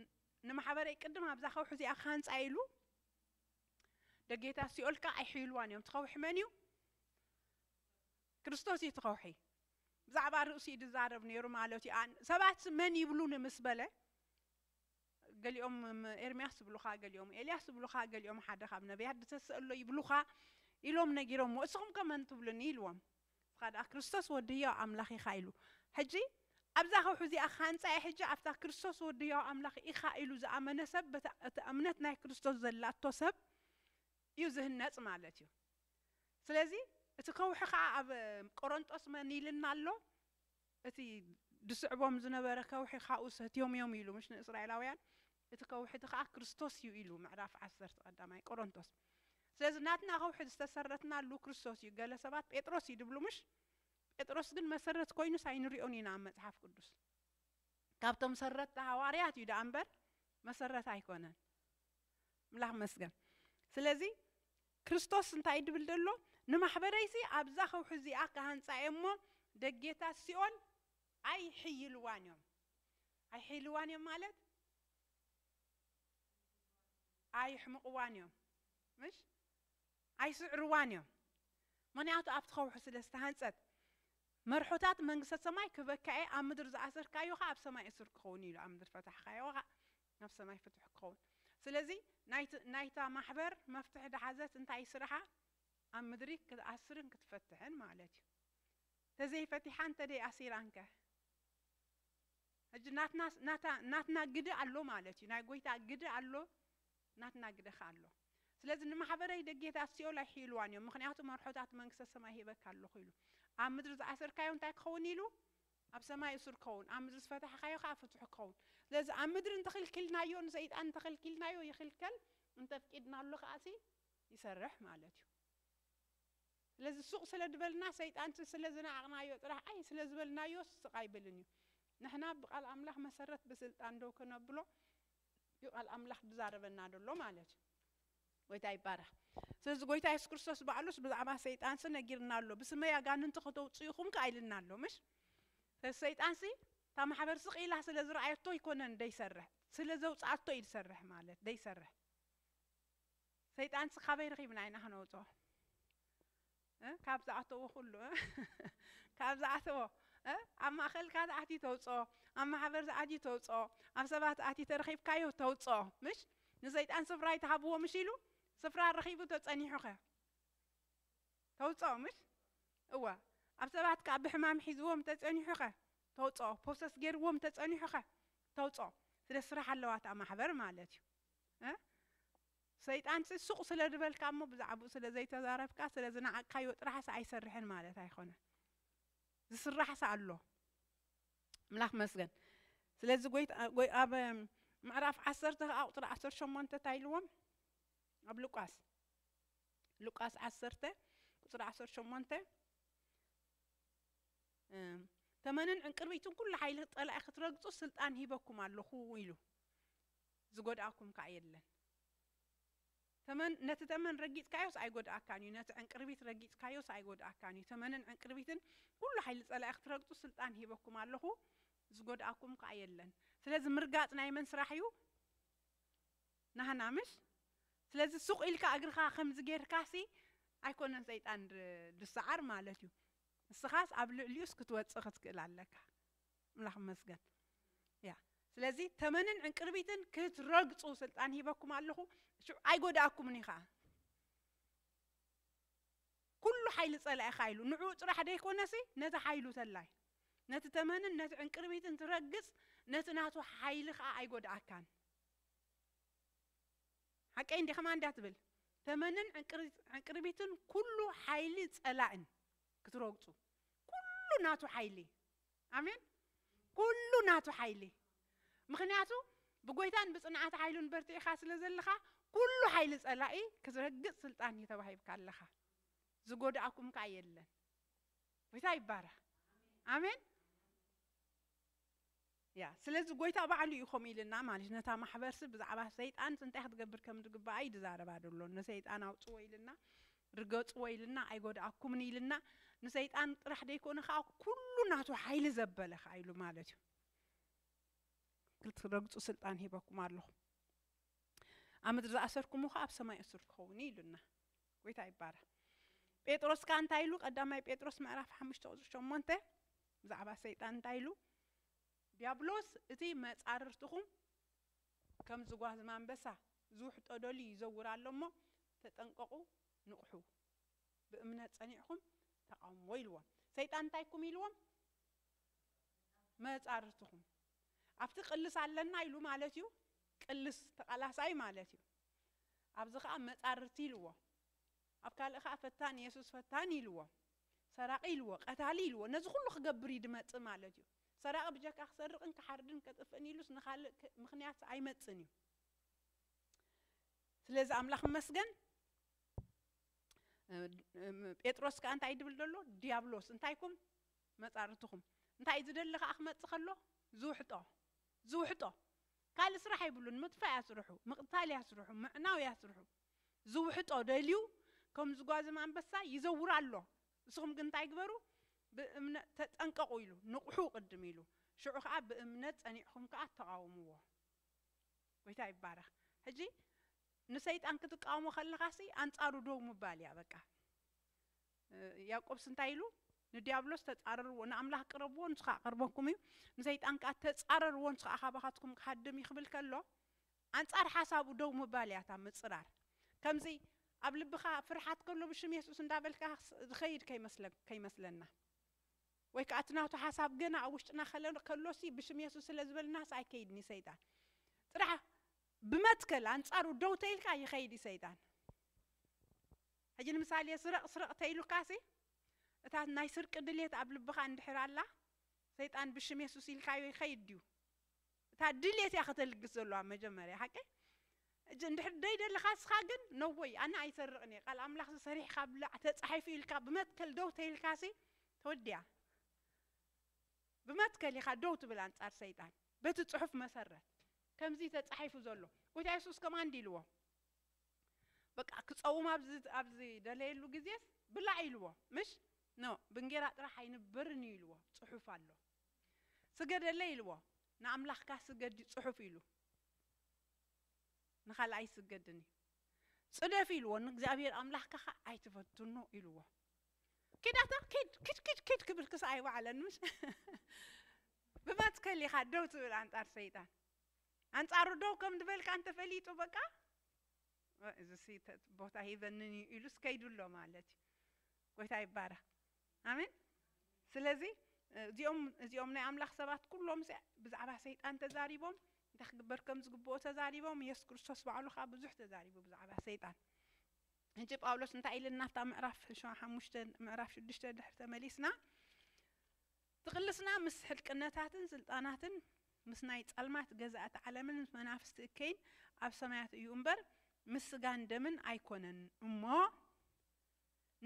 ን- ንማሕበረይ ቅድም ኣብዛ ከውሒ እዚኣ ክሃንፃ ኢሉ ደጌታት ሲኦል ከኣ ኣይሕይልዋን እዮም ትኸውሒ መን እዩ ክርስቶስ እዩ ትኸውሒ ብዛዕባ ርእሱ እዩ ዝዛረብ ነይሩ ማለት እዩ ኣን- ሰባት መን ይብሉኒ ምስ በለ ገሊኦም ኤርምያስ ይብሉኻ፣ ገሊኦም ኤልያስ ይብሉኻ፣ ገሊኦም ሓደ ኻብ ነብያት ድተስእ ኣሎ ይብሉኻ ኢሎም ነጊሮምዎ፣ እስኹምከ መን ትብሉኒ? ኢልዎም። ንስኻ ደኣ ክርስቶስ ወዲ ህያው ኣምላኽ ኢኻ ኢሉ። ሕጂ ኣብዛ ከውሒ እዚኣ ክሃንጻ እየ፣ ሕጂ ኣብታ ክርስቶስ ወዲ ህያው ኣምላኽ ኢኻ ኢሉ ዝኣመነ ሰብ በታ እታ እምነት ናይ ክርስቶስ ዘላቶ ሰብ እዩ ዝህነጽ ማለት እዩ። ስለዚ እቲ ከውሒ ኸኣ ኣብ ቆረንጦስ መን ኢልና ኣሎ? እቲ ዚስዕቦም ዝነበረ ከውሒ ኻብኡ ሰትዮም እዮም ኢሉ ምስ ንእስራኤላውያን፣ እቲ ከውሒ እቲ ኸኣ ክርስቶስ እዩ ኢሉ፣ ምዕራፍ ዓሰርተ ቀዳማይ ቆሮንቶስ። ስለዚ ናትና ከውሒ ዝተሰረትናሉ ክርስቶስ እዩ፣ ገለ ሰባት ጴጥሮስ እዩ ዝብሉ ምሽ? ጴጥሮስ ግን መሰረት ኮይኑስ ኣይንሪኦን ኢና ኣብ መጽሓፍ ቅዱስ። ካብቶም ሰረትቲ ሃዋርያት እዩ ደኣ እምበር መሰረት ኣይኮነን። ምላኽ መስገን ስለዚ ክርስቶስ እንታይ ድብል ደሎ ንማሕበረይሲ ኣብዛ ከውሒ እዚኣ ክሃንጻ እየ እሞ ደጌታት ሲኦል ኣይሕይልዋን እዮም ኣይሕይልዋን እዮም ማለት ኣይሕምቕዋን እዮም ምሽ ኣይስዕርዋን እዮም ምክንያቱ ኣብቲ ከውሒ ስለ ዝተሃንጸት መርሖታት መንግስተ ሰማይ ክበካኤ ኣብ ምድር ዝኣሰርካዮ ኸ ኣብ ሰማይ እሱር ክኸውን ኢሉ ኣብ ምድር ፈታሕካዮ ኸ ናብ ሰማይ ፍቱሕ ክኸውን ስለዚ ናይቲ ናይታ ማሕበር መፍትሕ ድሓዘት እንታይ እዩ ስራሓ ኣብ ምድሪ ክትኣስርን ክትፈትሕን ማለት እዩ ተዘይ ፈቲሓ እንተደይ ኣሲራን ከ ሕጂ ናትና ናታ ናትና ግደ ኣሎ ማለት እዩ ናይ ጎይታ ግደ ኣሎ ናትና ግደ ከ ኣሎ ስለዚ ንማሕበረይ ደጌታት ሲኦል ኣይሕይልዋን እዮም ምኽንያቱ መርሖታት መንግስተ ሰማይ ሂበካ ኣለኹ ኢሉ ኣብ ምድሪ ዝኣሰርካዮ እንታይ ክኸውን ኢሉ ኣብ ሰማይ እሱር ክኸውን፣ ኣብ ምድሪ ዝፈታሕካዮ ከኣ ፍቱሕ ክኸውን። ስለዚ ኣብ ምድሪ እንተ ክልኪልናዮ፣ ንሰይጣን እንተ ከልኪልናዮ ይኽልከል፣ እንተ ኣፍቂድናሉ ከኣሲ ይሰርሕ ማለት እዩ። ስለዚ ሱቕ ስለ ድበልና፣ ሰይጣን ስለ ዝነዓቕናዮ ጥራሕ፣ ኣይ ስለ ዝበልናዮስ ስቕ ኣይብልን እዩ። ንሕና ብቃል ኣምላኽ መሰረት ብስልጣን ደው ከነብሎ እዩ ቃል ኣምላኽ ድዛረበና ደሎ ማለት እዩ። ጎይታ ይባረኽ ስለዚ ጎይታ የሱስ ክርስቶስ ባዕሉስ ብዛዕባ ሰይጣንሲ ነጊርና ኣሎ ብስመይ ኣጋንንቲ ከተውፅኡ ኢኹም ከኣ ኢልና ኣሎ ምሽ ስለዚ ሰይጣንሲ እታ ማሕበር ስቕ ኢላ ስለ ዝረኣየቶ ኣይኮነን ደይሰርሕ ስለ ዘውፅኣቶ እዩ ዝሰርሕ ማለት ደይሰርሕ ሰይጣንሲ ካበይ ረኺብና ኢና ክነውፅኦ እ ካብ ዝኣተዎ ኩሉ እ ካብ ዝኣተዎ እ ኣብ ማእከልካ ዝኣትዩ ተውጽኦ ኣብ ማሕበር ዝኣትዩ ተውጽኦ ኣብ ሰባት ኣትዩ ተረኺብካዮ ተውጽኦ ምሽ ንሰይጣን ስፍራ ኣይትሃብዎ ምሽ ኢሉ ስፍራ ረኺቡ ተጸኒሑ ከ ተውጽኦ ምሽ እወ ኣብ ሰባት ከኣ ብሕማም ሒዝዎም ተጸኒሑ ከ ተውጽኦ ፕሮሰስ ገይርዎም ተጸኒሑ ከ ተውጽኦ ስለ ስራሕ ኣለዋ እታ ማሕበር ማለት እዩ እ ሰይጣንሲ ሱቕ ስለ ዝበልካ እሞ ብዛዕባኡ ስለ ዘይተዛረብካ ስለ ዝነዓቕካዮ ጥራሕሲ ኣይሰርሕን ማለት ኣይኮነን። ዝስራሕሲ ኣሎ። ኣምላኽ ይመስገን። ስለዚ ጎይታ ጎይ ኣብ ምዕራፍ ዓሰርተ ከኣ ቁጽሪ ዓሰርተ ሸሞንተ እንታይ ኢልዎም? ኣብ ሉቃስ ሉቃስ ዓሰርተ ቁጽሪ ዓሰርተ ሸሞንተ እም፣ ተመንን ዕንቅርቢትን ኩሉ ሓይሊ ጸላኢ ክትረግጹ ስልጣን ሂበኩም ኣለኹ ኢሉ። ዝጎድኣኩም ከኣ የለን። ተመን ነቲ ተመን ረጊጽካዮስ ኣይጎድኣካን እዩ፣ ነቲ ዕንቅርቢት ረጊጽካዮስ ኣይጎድኣካን እዩ፣ ተመንን ዕንቅርቢትን ኩሉ ሓይሊ ጸላኢ ክትረግጹ ስልጣን ሂበኩም ኣለኹ፣ ዝጎድኣኩም ከኣ የለን። ስለዚ ምርጋጽ ናይ መን ስራሕ እዩ? ናህና ምሽ? ስለዚ ሱቕ ኢልካ እግርኻ ከምዚ ጌርካሲ ኣይኮነን ሰይጣን ዝሰዓር ማለት እዩ፣ ንስኻስ ኣብ ልዕሊኡስ ክትወጽእ ክትክእል ኣለካ። ኣምላኽ ይመስገን ያ ስለዚ ተመንን ዕንቅርቢትን ክትረግጹ ስልጣን ሂበኩም ኣለኹ ሽዑ ኣይጎዳእኩምን እዩ ከዓ ኩሉ ሓይሊ ጸላኢ ካ ኢሉ ንዕኡ ጥራሕ ደይኮነሲ ነቲ ሓይሉ ተላይ ነቲ ተመንን ነቲ ዕንቅርቢትን ትረግጽ ነቲ ናቱ ሓይሊ ከዓ ኣይጎድኣካን ሓቀይ እንዲ ከማ እንዳ ትብል ተመንን ዕንቅርቢትን ኩሉ ሓይሊ ጸላእን ክትረግጹ ኩሉ ናቱ ሓይሊ ኣሜን ኩሉ ናቱ ሓይሊ ምክንያቱ ብጎይታን ብጽንዓት ሓይሉን በርቲዕካ ስለ ዘለካ ኩሉ ሓይሊ ጸላኢ ክትረግጽ ስልጣን እዩ ተባሂብካ ኣለካ ዝጎድኣኩም ከኣ የለን ጎይታ ይባረክ ኣሜን ያ ስለዚ ጎይታ ባዕሉ እዩ ከምኡ ኢልና ማለት ነታ ማሕበርሲ ብዛዕባ ሰይጣን እንታይ ክትገብር ከም ዝግባኣ እዩ ዝዛረባ ዘሎ ንሰይጣን ኣውጽዎ ኢልና ርገጽዎ ኢልና ኣይጎድኣኩምን ኢልና ንሰይጣን ጥራሕ ደይኮነ ከኣ ኩሉ ናቱ ሓይሊ ዘበለ ከኣ ኢሉ ማለት እዩ ክትረግጹ ስልጣን ሂበኩም ኣለኹ ኣብ ምድሪ ዝኣሰርኩሞ ከኣ ኣብ ሰማይ እሱር ክኸውን እዩ ኢሉና ጎይታ ይባረ ጴጥሮስ ከኣ እንታይ ኢሉ ቀዳማይ ጴጥሮስ ምዕራፍ ሓሙሽተ ቁጽሪ ሸሞንተ ብዛዕባ ሰይጣን እንታይ ኢሉ ዲያብሎስ እቲ መጻርርትኹም ከም ዝጓዝም ኣንበሳ ዝውሕጦ ደልዩ ይዘውር ኣሎ እሞ ተጠንቀቑ ንቕሑ ብእምነት ጸኒዕኹም ተቓውምዎ ኢልዎም። ሰይጣን እንታይ እኩም ኢልዎም? መጻርትኹም ኣብቲ ቅልስ ኣለና ኢሉ ማለት እዩ ቅልስ ተቓላሳይ ማለት እዩ ኣብዚ ከኣ መጻርርቲ ኢልዎ ኣብ ካልእ ከኣ ፈታኒ የሱስ ፈታኒ ኢልዎ ሰራቒ ኢልዎ ቀታሊ ኢልዎ ነዚ ኩሉ ክገብር እዩ ድመጽእ ማለት እዩ። ሰራቂ ብጀካ ክሰርቅን ክሓርድን ከጥፍእን ኢሉስ ንካልእ ምክንያት ኣይመጽን እዩ ስለዚ ኣምላኽ መስገን ጴጥሮስ ከኣ እንታይ ድብል ደሎ ዲያብሎስ እንታይኩም መጻርትኹም እንታይ እዩ ዝደሊ ከኣ ክመጽእ ከሎ ዝውሕጦ ዝውሕጦ ካልእ ስራሕ ኣይብሉን ምጥፋእ እያ ስርሑ ምቕታል እያ ስርሑ ምዕናው እያ ስርሑ ዝውሕጦ ደልዩ ከም ዝጓዝም ኣንበሳ ይዘውር ኣሎ ንስኹም ግን እንታይ ግበሩ፣ ብእምነ ተጠንቀቑ ኢሉ፣ ንቕሑ ቅድም ኢሉ፣ ሽዑ ኸኣ ብእምነት ጸኒዕኩም ከኣ ተቓወምዎ። ጐይታ ይባረኽ። ሕጂ ንሰይጣን ክትቃወሞ ከለኻሲ ኣንጻሩ ደው ምባል እያ በቃ። ያእቆብስ እንታይ ኢሉ፣ ንድያብሎስ ተጻረርዎ፣ ንኣምላኽ ቅረብዎ ንሱ ኸኣ ክቐርበኩም እዩ፣ ንሰይጣን ከኣ ተጻረርዎ ንሱ ኸኣ ካባኻትኩም ክሃድም እዩ ክብል ከሎ፣ ኣንጻር ሓሳቡ ደው ምባል እያ እታ ምጽራር ከምዚ ኣብ ልብካ ፍርሓት ከሎ ብሽም የሱስ እንዳበልካ ዝከይድ ከይመስለና ወይ ከኣ እቲ ናቱ ሓሳብ ገና ኣብ ውሽጥና ከሎሲ ብሽም የሱስ ስለ ዝበልናስ ኣይከይድን እዩ ሰይጣን ጥራሕ ብመትከል ኣንጻሩ ደው ተይልካ ይከይድ እዩ ሰይጣን ሕጂ ንምሳሌ ስረቅ ስረቅ ተይሉካሲ እታ ናይ ስርቂ ድሌት ኣብ ልብካ እንድሕር ኣላ ሰይጣን ብሽም የሱስ ኢልካዮ ይከይድ ድዩ እታ ድልየት እያ ከተልግስ ዘሎዋ መጀመርያ ሓቀይ እጂ እንድሕር ደይደለኻ እስኻ ግን ነወይ ኣነ ኣይሰርቕን እየ ቃል ኣምላኽሲ ሰሪሕኻ ብላዕ ተጻሒፉ እዩ ኢልካ ብመትከል ደው ተይልካሲ ተወዲያ ብመትከል ኢኻ ደው ትብል ኣንጻር ሰይጣን በቲ ጽሑፍ መሰረት ከምዚ ተጻሒፉ ዘሎ ጎይታ የሱስ ከምኣ እንዲ ኢልዎ በቃ ክጸውም ኣብዚ ኣብዚ ደለየሉ ግዜስ ብላዕ ኢልዎ ምሽ ኖ ብእንጌራ ጥራሕ ኣይንበርን እዩ ኢልዎ ጽሑፍ ኣሎ ስገደለይ ኢልዎ ንኣምላኽካ ስገድ እዩ ጽሑፍ ኢሉ ንኻልእ ኣይስገድን እዩ ጽደፍ ኢልዎ ንእግዚኣብሔር ኣምላኽካ ኸኣ ኣይትፈትኖ ኢልዎ ኪድ ኣታ ኪድ ኪድ ኪድ ኪድ ክብል ክሳዕ ኣይወዓለን ምሽ ብመትከል ኢኻ ደው ትብል ኣንጻር ሰይጣን ኣንጻሩ ደው ከም ዝበልካ እንተፈሊጡ በቃ እዚ ቦታ ሂበንን እዩ ኢሉስ ከይዱ ኣሎ ማለት እዩ ጎይታ ይባረኽ ኣሜን ስለዚ እዚኦም እዚኦም ናይ ኣምላኽ ሰባት ኩሎም ሲ ብዛዕባ ሰይጣን ተዛሪቦም እንታይ ክግበር ከም ዝግብኦ ተዛሪቦም የሱስ ክርስቶስ ባዕሉ ከዓ ብዙሕ ተዛሪቡ ብዛዕባ ሰይጣን ሕጂ ጳውሎስ እንታይ ኢልና ኣብታ ምዕራፍ ሸ- ሓሙሽተ ምዕራፍ ሽዱሽተ ድሕሪ ተመሊስና ትቕልስና ምስ ሕልቅነታትን ስልጣናትን ምስ ናይ ጸልማት ገዛእቲ ዓለምን ምስ መናፍስቲ እከይን ኣብ ሰማያት እዩ እምበር ምስ ስጋን ደምን ኣይኮነን እሞ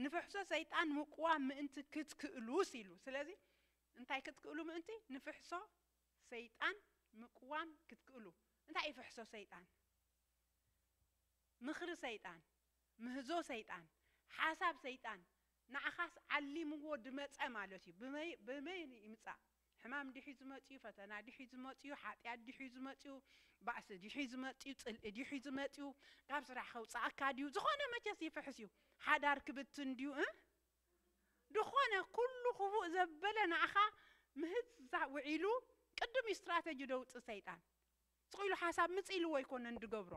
ንፍሕሶ ሰይጣን ምቁዋም ምእንቲ ክትክእሉስ ኢሉ ስለዚ እንታይ ክትክእሉ ምእንቲ ንፍሕሶ ሰይጣን ምቁዋም ክትክእሉ እንታይ እዩ ፍሕሶ ሰይጣን ምኽሪ ሰይጣን ምህዞ ሰይጣን ሓሳብ ሰይጣን ንዓኻስ ዓሊምዎ ድመጸ ማለት እዩ ብመይ ብመይ ይምጻእ ሕማም ዲሒዩ ዝመጽዩ ፈተና ዲሒዩ ዝመጽዩ ሓጥያት ዲሒዩ ዝመጽዩ ባእሲ ዲሒዩ ዝመጽዩ ጽልኢ ዲሒዩ ዝመጽዩ ካብ ስራሕ ከውጽኣካ ዲዩ ዝኾነ መቸስ ይፍሕስ ዩ ሓዳር ክብትን ዲዩ እ ድኾነ ኩሉ ክፉእ ዘበለ ንኣኻ ምህዛ ውዒሉ ቅድም ዩ ስትራተጂ ደውጽ ሰይጣን ስቅ ኢሉ ሓሳብ ምጽ ኢልዎ ኣይኮነን ድገብሮ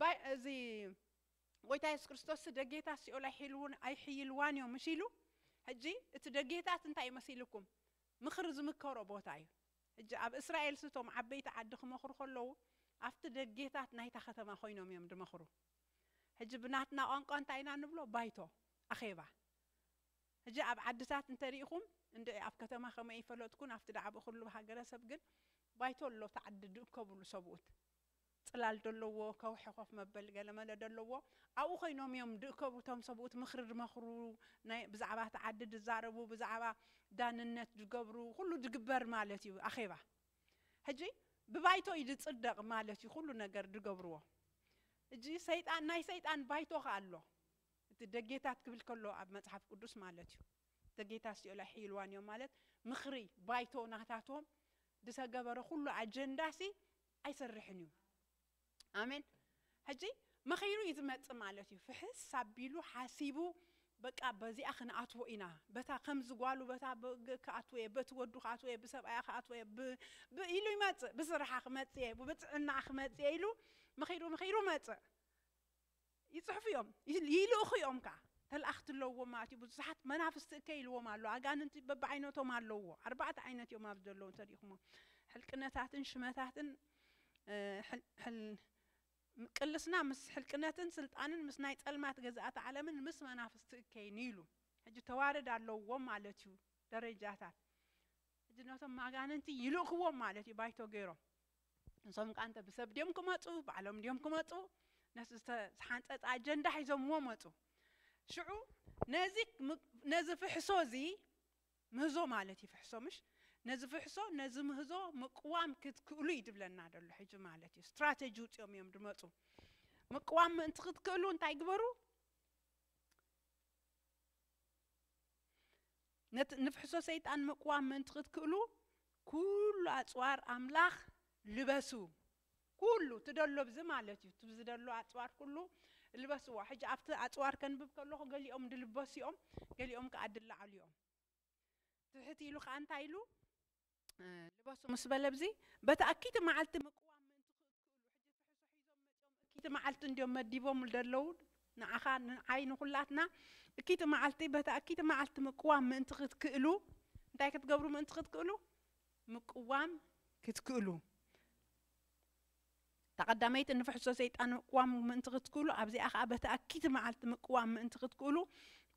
ባይ እዚ ጎይታ የሱስ ክርስቶስሲ ደጌታት ሲኦል ኣይሒልዉን ኣይሕይልዋን እዮም ምስ ኢሉ ሕጂ እቲ ደጌታት እንታይ እዩ መሲልኩም ምኽሪ ዝምከሮ ቦታ እዩ ሕጂ ኣብ እስራኤልሲ እቶም ዓበይቲ ዓዲ ክመኽሩ ከለዉ ኣብቲ ደጌታት ናይታ ከተማ ኮይኖም እዮም ድመኽሩ ሕጂ ብናትና ቋንቋ እንታይ ኢና ንብሎ ባይቶ ኣኼባ ሕጂ ኣብ ዓድታት እንተ ሪኢኹም እንድዒ ኣብ ከተማ ከመይ ይፈለጥኩን ኣብቲ ዳዕብኡ ኩሉ ሃገረሰብ ግን ባይቶ ኣሎ እቲ ዓዲ ድእከብሉ ሰብኡት ጽላል ደለዎ ከውሒ ኮፍ መበሊ ገለ መለ ደለዎ ኣብኡ ኮይኖም እዮም ድእከቡ እቶም ሰብኡት ምክሪ ድመክሩ ናይ ብዛዕባ እቲ ዓዲ ድዛረቡ ብዛዕባ ዳንነት ድገብሩ ኩሉ ድግበር ማለት እዩ ኣኼባ ህጂ ብባይቶ እዩ ድጽደቅ ማለት እዩ ኩሉ ነገር ድገብርዎ ህጂ ሰይጣን ናይ ሰይጣን ባይቶ ከኣ ኣሎ እቲ ደጌታት ክብል ከሎ ኣብ መጽሓፍ ቅዱስ ማለት እዩ ደጌታት ሲኦል ኣይሕይልዋን እዮም ማለት ምክሪ ባይቶ ናታቶም ድተገበረ ኩሉ ኣጀንዳ ሲ ኣይሰርሕን እዩ ኣሜን ሕጂ መኺሩ እዩ ዝመጽእ ማለት እዩ ፍሕስ ኣቢሉ ሓሲቡ በቃ በዚኣ ክንኣትዎ ኢና በታ ከምዚ ጓሉ በታ ክኣትዎ እየ በቲ ወዱ ክኣትዎ እየ ብሰብኣያ ክኣትዎ እየ ብ ብ ኢሉ ይመጽእ ብስራሓ ክመጽእ እየ ብጥዕናኣ ክመጽእ እየ ኢሉ መኺሩ መኺሩ መጽእ ይጽሕፉ እዮም ይልእኹ እዮም ከኣ ተላኣኽቲ ኣለውዎም ማለት እዩ ብዙሓት መናፍስቲ እከይ ኢልዎም ኣሎ ኣጋንንቲ በብዓይነቶም ኣለውዎ ኣርባዕተ ዓይነት እዮም ኣብዚ ዘለዉ እንተሪኢኹሞም ሕልቅነታትን ሽመታትን ቅልስና ምስ ሕልቅነትን ስልጣንን ምስ ናይ ጸልማት ገዛእቲ ዓለምን ምስ መናፍስቲ እከይን ኢሉ ሕጂ ተዋረድ ኣለውዎም ማለት እዩ ደረጃታት ሕጂ ነቶም ማጋንንቲ ይልእኽዎም ማለት እዩ ባይቶ ገይሮም ንሶም ከኣ እንተ ብሰብ ድዮም ክመጹ ባዕሎም ድዮም ክመጹ ነቲ ዝተሓንጸጸ ኣጀንዳ ሒዞምዎ መጹ። ሽዑ ነዚ ነዚ ፍሕሶ እዚ ምህዞ ማለት እዩ ፍሕሶ ምሽ ነዚ ፍሕሶ ነዚ ምህዞ ምቅዋም ክትክእሉ እዩ ዝብለና ዘሎ ሕጂ ማለት እዩ ስትራተጂ ውጽኦም እዮም ዝመጹ ምቅዋም ምእንቲ ክትክእሉ እንታይ ግበሩ ነቲ ንፍሕሶ ሰይጣን ምቅዋም ምእንቲ ክትክእሉ ኩሉ ኣጽዋር ኣምላኽ ልበሱ። ኩሉ ትደሎ ብዚ ማለት እዩ እቲ ዝደሎ ኣጽዋር ኩሉ ልበስዎ። ሕጂ ኣብቲ ኣጽዋር ከንብብ ከለኹ ገሊኦም ድልበሱ እዮም ገሊኦም ከኣ ድለዓሉ እዮም። ትሕት ኢሉ ከኣ እንታይ ኢሉ? ልበሱ ምስ በለ ብዚ በቲ ኣኪቲ መዓልቲ ምቅዋም እቲ መዓልቲ እንድዮም መዲቦም ደለዉ ንዓኻ ንዓይ ንኹላትና እኪቲ መዓልቲ በቲ ኣኪቲ መዓልቲ ምቅዋም ምእንቲ ክትክእሉ እንታይ ክትገብሩ ምእንቲ ክትክእሉ ምቅዋም ክትክእሉ እታ ቀዳመይቲ ንፍሕሶ ሰይጣን ምቅዋም ምእንቲ ክትክእሉ ኣብዚኣ ከኣ በቲ ኣኪቲ መዓልቲ ምቅዋም ምእንቲ ክትክእሉ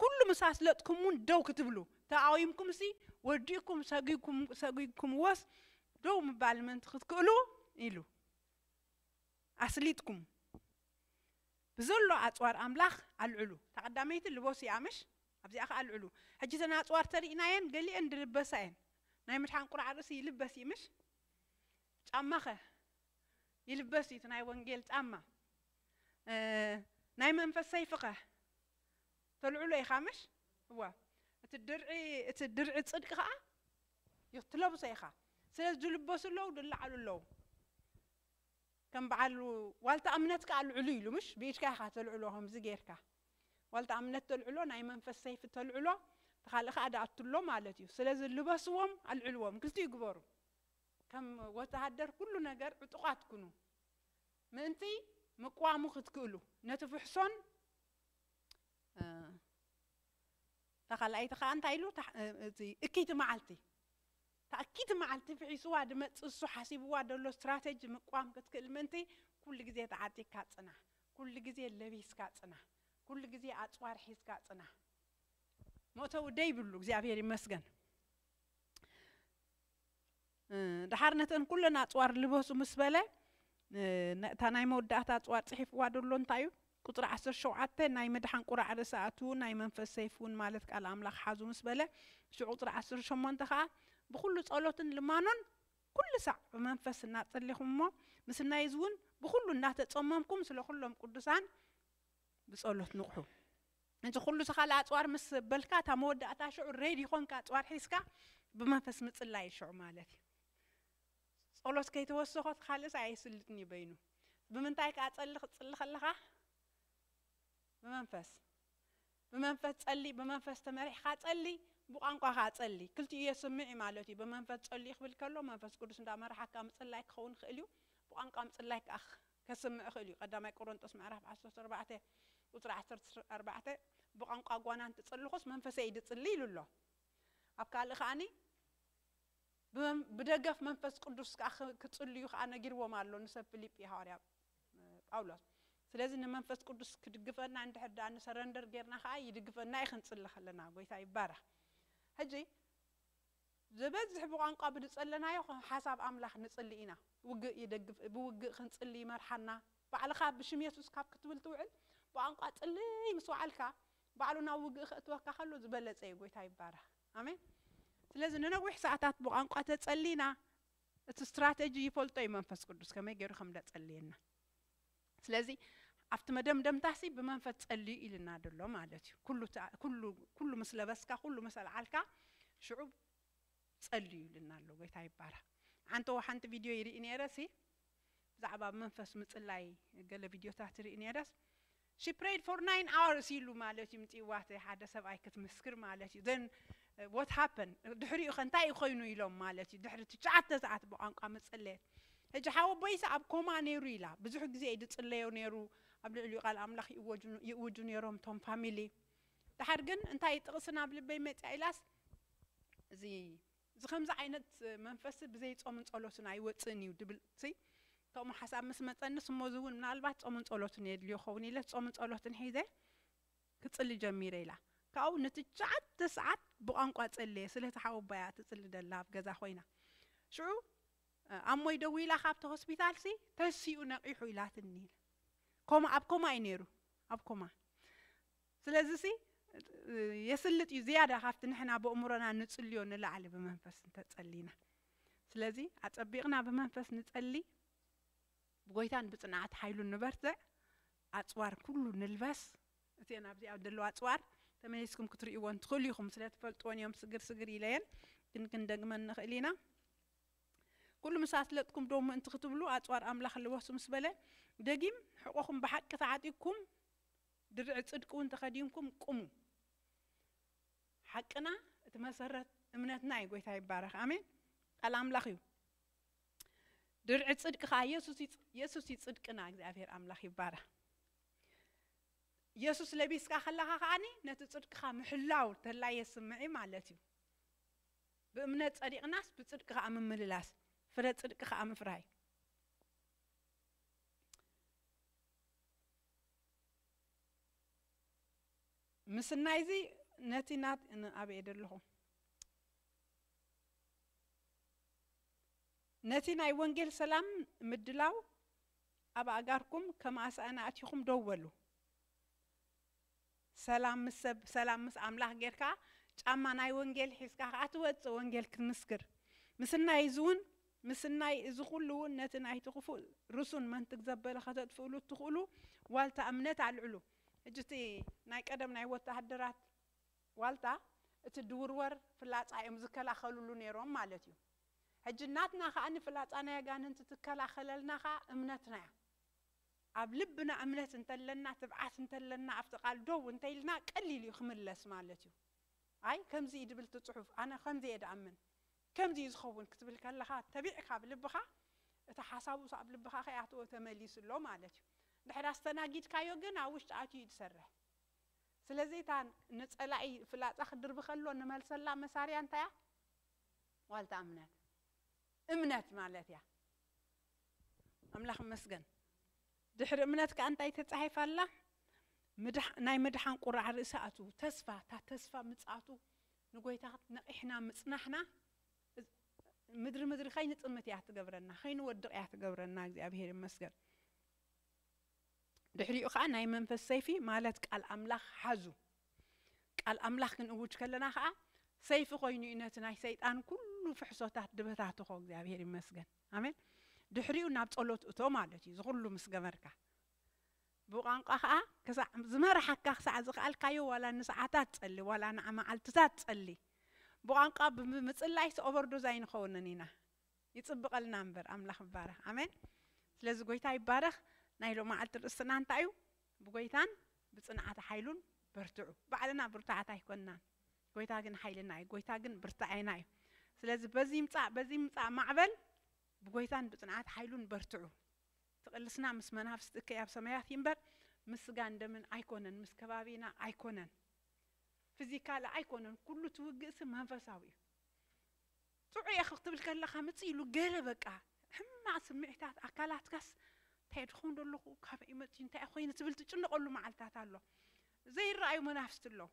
ኩሉ ምስ ኣስለጥኩምውን ደው ክትብሉ ተቃዊምኩምሲ ወዲእኩም ሰጒግኩምዎስ ደው ምባል ምእንቲ ክትክእሉ ኢሉ ኣስሊጥኩም ብዘሎ ኣጽዋር ኣምላኽ ኣልዕሉ። እታ ቀዳመይቲ ልቦስ ኢያ ምሽ ኣብዚኣ ከኣ ኣልዕሉ። ሕጂ እተን ኣጽዋር ተሪእናየን ገሊኤን ድልበሳ ኢየን ናይ ምድሓን ቁራዕ ርእሲ ይልበስ ኢዩ ምሽ? ጫማኸ ይልበስ እዩ እቲ ናይ ወንጌል ጫማ ናይ መንፈስ ሰይፍኸ ተልዕሎ ኢኻ ምሽ እወ እቲ ድርዒ እቲ ድርዒ ጽድቂ ከኣ ትለብሶ ኢኻ ስለዚ ዝልበሱ ኣለዉ ዝለዓሉ ኣለዉ ከም በዓል ዋልታ እምነት ከኣ ልዕሉ ኢሉ ምሽ ብኢድካ ኢኻ ተልዕሎ ከምዚ ጌርካ ዋልታ እምነት ተልዕሎ ናይ መንፈስ ሰይፊ ተልዕሎ ተኻልእ ከኣ ደኣትሎ ማለት እዩ ስለዚ ልበስዎም ኣልዕልዎም ክልቲኡ ግበሩ ከም ወተሃደር ኩሉ ነገር ዕጡቓት ኩኑ ምእንቲ ምቅዋሙ ክትክእሉ ነቲ ፍሕሶን እታ ካልኣይቲ ከኣ እንታይ ኢሉ እቲ እክይቲ መዓልቲ እታ እክይቲ መዓልቲ ፍሒስዋ ድመጽእ እሱ ሓሲብዋ ደሎ ስትራተጂ ምቅዋም ክትክእል ምእንቲ ኩሉ ግዜ ተዓጢቅካ ጽናሕ ኩሉ ግዜ ለቢስካ ጽናሕ ኩሉ ግዜ ኣጽዋር ሒዝካ ጽናሕ መእተዊ ደይብሉ እግዚኣብሔር ይመስገን ደሓር ነተን ኩለን ኣፅዋር ልበሱ ምስ በለ እታ ናይ መወዳእታ ኣፅዋር ፅሒፍዋ ደሎ እንታይ እዩ ቁፅሪ ዓሰርተ ሸውዓተ ናይ ምድሓን ቁራዕ ርእሲ ኣእትዉ ናይ መንፈስ ሰይፍ እውን ማለት ቃል ኣምላኽ ሓዙ ምስ በለ ሽዑ ቁፅሪ ዓሰርተ ሸሞንተ ከዓ ብኩሉ ጸሎትን ልማኖን ኩሉ ሳዕ ብመንፈስ እናጸሊኹም እሞ ምስናይ እዚ እውን ብኩሉ እናተጸመምኩም ስለ ኩሎም ቅዱሳን ብጸሎት ንቕሑ። እዚ ኩሉ ዝካል ኣጽዋር ምስ በልካ እታ መወዳእታ ሽዑ ሬዲ ኮንካ ኣጽዋር ሒዝካ ብመንፈስ ምጽላይ እዩ ሽዑ ማለት እዩ። ጸሎት ከይተወሰኾ እቲ ካልእስ ኣየስልጥን እዩ በይኑ። ብምንታይ ከኣ ጸሊ ክትጽሊ ከለኻ ብመንፈስ ብመንፈስ ጸሊ ብመንፈስ ተመሪሕካ ጸሊ ብቋንቋ ከኣ ጸሊ ክልቲኡ የስምዕ እዩ ማለት እዩ። ብመንፈስ ጸልዩ ክብል ከሎ መንፈስ ቅዱስ እንዳመርሓካ ምጽላይ ክኸውን ይኽእል እዩ። ብቋንቋ ምጽላይ ከኣ ከስምዕ ይኽእል እዩ ቀዳማይ ቆሮንጦስ ምዕራፍ ዓሰርተ ኣርባዕተ ቁጽሪ ዓሰርተ ኣርባዕተ ብቛንቋ ጓና እንትጽልኹስ መንፈሰይ ድጽሊ ኢሉ ኣሎ ኣብ ካልእ ከኣ ብደገፍ መንፈስ ቅዱስ ከኣ ክጽልዩ ከኣ ነጊርዎም ኣሎ ንሰብ ፍሊጲ ሃዋርያ ጳውሎስ ስለዚ ንመንፈስ ቅዱስ ክድግፈና እንድሕር ደኣ ንሰረንደር ጌርና ከኣ ይድግፈና እዩ ክንጽሊ ከለና ጎይታ ይባረኽ ሕጂ ዝበዝሕ ብቋንቋ ብዝጸለናዮ ሓሳብ ኣምላኽ ንጽሊ ኢና። ውግእ ይደግፍ ብውግእ ክንጽሊ ይመርሓና። ባዕልኻ ብሽም የሱስ ካብ ክትብል ትውዕል ብቋንቋ ጽልይ ምስ ወዓልካ ባዕሉ ናብ ውግእ ከእትወካ ከሎ ዝበለጸ እዩ። ጎይታ ይባረኽ። ኣሜን። ስለዚ ንነዊሕ ሰዓታት ብቋንቋ ተጸሊና እቲ ስትራተጂ ይፈልጦ እዩ መንፈስ ቅዱስ ከመይ ጌሩ ከም ደጸልየና። ስለዚ ኣብቲ መደምደምታሲ ብመንፈስ ጸልዩ ኢልና ድሎ ማለት እዩ። ኩሉ እታ ኩሉ ኩሉ ምስ ለበስካ ኩሉ ምስ ኣልዓልካ ሽዑ ጸልዩ ኢልና ኣሎ። ጎይታ ይባረኽ። ሓንተዎ ሓንቲ ቪድዮ ይርኢ ነይረ ሲ ብዛዕባ ብ መንፈስ ምጽላይ ገለ ቪድዮታት ይርኢ ነይረስ She prayed for nine hours ኢሉ ማለት እዩ ምጽዋት ሓደ ሰብኣይ ክትምስክር ማለት እዩ። ዘን What happened? ድሕሪኡ ከ እንታይ እዩ ኮይኑ ኢሎም ማለት እዩ ድሕሪ ትሽዓተ ሰዓት ብቋንቋ መጸለየት ሕጂ ሓወቦይስ ኣብ ኮማ ነይሩ ኢላ ብዙሕ ግዜ እዩ ዝጽለዮ ነይሩ ኣብ ልዕሊኡ ቃል ኣምላኽ ይእወጁ ይእውጁ ነይሮም እቶም ፋሚሊ ድሓር ግን እንታይ እዩ ጥቕሲ ናብ ልበይ መጽኣ ኢላስ እዚ እዚ ከምዚ ዓይነት መንፈስ ብዘይ ጾምን ጸሎትን ኣይወጽእን እዩ ድብል ሲ ከምኡ ሓሳብ ምስ መጸንስ እሞ እዚ እውን ምናልባት ጾምን ጸሎትን የድልዮ ኸውን ኢለ ጾምን ጸሎትን ሒዘ ክጽሊ ጀሚረ ኢላ ካብኡ ንትሽዓተ ሰዓት ብቋንቋ ጸለየ ስለቲ ሓወቦኣ እያ ትጽሊ ደላ ኣብ ገዛ ኮይና ሽዑ ኣሞይ ደዊላ ካብቲ ሆስፒታል ሲ ተሲኡ ነቂሑ ኢላትኒ ኢላ ኮማ ኣብ ኮማ እዩ ነይሩ ኣብ ኮማ ስለዚ ሲ የስልጥ እዩ ዝያዳ ካብቲ ንሕና በእምሮና ንጽልዮ ንላዕሊ ብመንፈስ እንተጸሊና ስለዚ ኣጸቢቕና ብመንፈስ ንጸሊ ብጎይታን ብጽንዓት ሓይሉን ንበርትዕ ኣጽዋር ኩሉ ንልበስ እቲኤን ኣብዚኣ ዘለዋ ኣጽዋር ተመሊስኩም ክትሪእዎን ትኽእሉ ኢኹም ስለ ትፈልጥወን እዮም ስግር ስግር ኢለየን ግን ክንደግመን ንኽእል ኢና ኩሉ ምስ ኣስለጥኩም ዶ ምእንቲ ክትብሉ ኣጽዋር ኣምላኽ ልበሱ ምስ በለ ደጊም ሕቆኹም ብሓቂ ተዓጢቅኩም ድርዒ ጽድቂ እውን ተኸዲንኩም ቁሙ ሓቅና እቲ መሰረት እምነትና እዩ ጎይታ ይባረኽ ኣሜን ቃል ኣምላኽ እዩ ድርዒ ጽድቂ ከኣ የሱስ እዩ የሱስ እዩ ጽድቅና እግዚኣብሔር ኣምላኽ ይባረኽ የሱስ ለቢስካ ከለኻ ከኣኒ ነቲ ጽድቅኻ ምሕላው ተላ የስምዕ እዩ ማለት እዩ ብእምነት ጸዲቕናስ ብጽድቂ ከኣ ምምልላስ ፍረ ጽድቂ ከኣ ምፍራይ ምስናይ እዚ ነቲ ናት ኣበየ ደለኹ ነቲ ናይ ወንጌል ሰላም ምድላው ኣብ ኣእጋርኩም ከም ኣሳእን ኣእቲኹም ደው በሉ። ሰላም ምስ ሰብ፣ ሰላም ምስ ኣምላኽ ጌርካ ጫማ ናይ ወንጌል ሒዝካ ከኣ ትወጽእ ወንጌል ክትምስክር። ምስናይ እዚ እውን ምስናይ እዚ ኩሉ እውን ነቲ ናይቲ ክፉእ ርሱን መንትግ ዘበለ ከተጥፍእሉ እትኽእሉ ዋልታ እምነት ኣልዕሉ። ሕጂ እቲ ናይ ቀደም ናይ ወተሃደራት ዋልታ እቲ ድውርወር ፍላጻ እዮም ዝከላኸልሉ ኔሮም ማለት እዩ ሕጂ ናትና ከኣ ንፍላጻ ናይ ኣጋንንቲ ትከላኸለልና ከኣ እምነትና እያ ኣብ ልብና እምነት እንተለና ትብዓት እንተለና ኣብቲ ቃል ደው እንተኢልና ቀሊል እዩ ክምለስ ማለት እዩ ኣይ ከምዚ እዩ ድብል እቲ ጽሑፍ ኣነ ከምዚ እየ ድኣምን ከምዚ እዩ ዝኸውን ክትብል ከለኻ ተቢዕካ ኣብ ልብኻ እቲ ሓሳቡ ኣብ ልብኻ ከይኣተወ ተመሊሱ ኣሎ ማለት እዩ ድሕር ኣስተናጊድካዮ ግን ኣብ ውሽጢ ኣትዩ እዩ ዝሰርሕ ስለዚ እታ ንጸላኢ ፍላጻ ክድርቢ ከሎ ንመልሰላ መሳርያ እንታይ እያ? ዋልታ እምነት እምነት ማለት እያ። ኣምላኽ ይመስገን ድሕሪ እምነት ከኣ እንታይ ተጻሒፋ ኣላ? ምድሓ ናይ ምድሓን ቁራዕ ርእሲ ኣቱ ተስፋ እታ ተስፋ ምጽኣቱ ንጎይታ ነቒሕና ምጽናሕና ምድሪ ምድሪ ከይንጥምት እያ ትገብረና ከይንወድቕ እያ ትገብረና እግዚኣብሄር ይመስገን። ድሕሪኡ ከኣ ናይ መንፈስ ሰይፊ ማለት ቃል ኣምላኽ ሓዙ። ቃል ኣምላኽ ክንእውጅ ከለና ከኣ ሰይፊ ኮይኑ እዩ ነቲ ናይ ሰይጣን ኩሉ ፍሕሶታት ድበታትኾ እግዚኣብሄር ይመስገን ኣሜን። ድሕሪኡ ናብ ጸሎት እቶ ማለት እዩ እዚ ኩሉ ምስ ገበርካ። ብቋንቋ ከኣ ክሳዕ ዝመርሓካ ክሳዕ ዝኸኣልካዮ ዋላ ንሰዓታት ጸሊ ዋላ ንመዓልትታት ጸሊ። ብቋንቋ ብምጽላይስ ኦቨርዶዝ ኣይንኸውንን ኢና። ይጽብቀልና እምበር ኣምላኽ ይባረኽ ኣሜን ስለዚ ጎይታ ይባረኽ ናይ ሎማዓልቲ ርእስትና እንታይ እዩ ብጎይታን ብጽንዓተ ሓይሉን በርትዑ ባዕልና ብርቱዓት ኣይኮንናን ጎይታ ግን ሓይልና እዩ ጎይታ ግን ብርታዔና እዩ ስለዚ በዚ ይምጻእ በዚ ይምጻእ ማዕበል ብጎይታን ብጽንዓት ሓይሉን በርትዑ ትቕልስና ምስ መናፍስቲ እከይ ኣብ ሰማያት ይንበር ምስ ስጋን ደምን ኣይኮነን ምስ ከባቢና ኣይኮነን ፊዚካል ኣይኮነን ኩሉ ትውግእሲ መንፈሳዊ እዩ ጥዑይ እየ ክትብል ከለኻ ምጽእ ኢሉ ገለ በቃ ሕማቕ ስምዒታት ኣካላትካስ እንታይ ድኾን ደለኹ ካበይ መጺኡ እንታይ ኾይነ ትብል ትጭነቐሉ መዓልታት ኣሎ ዘይረኣዩ መናፍስቲ ኣለዉ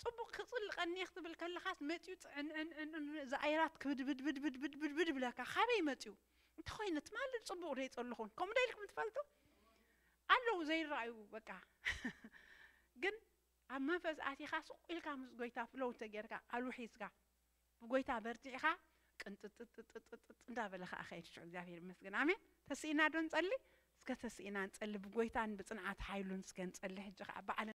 ጽቡቕ ክጽልቀኒ እየ ክትብል ከለኻስ መጺኡ ጽዕንዕንዕንዕን እዚ ኣየራት ክብድብድብድብድብድብድ ብለካ ካበይ መጺኡ እንታይ ኾይነ ትማሊ ጽቡቕ ዶ ይጸለኹን ከምኡ ዶ ኢልኩም ትፈልጡ ኣለዉ ዘይረኣዩ በቃ ግን ኣብ መንፈስ ኣቲኻ ሱቕ ኢልካ ምስ ጎይታ ፍሎው እንተጌርካ ቃሉ ሒዝካ ብጎይታ በርቲዕኻ ቅንጥጥጥጥጥጥ እንዳበለ ከኣ ከይድ ሽዑ እግዚኣብሔር ይመስገን ኣሜን ተስኢና ዶ ንጸሊ እስከ ተስኢና ንጸሊ ብጎይታን ብጽንዓት ሓይሉን እስከ ንጸሊ ሕጂ ከኣ ባዕልና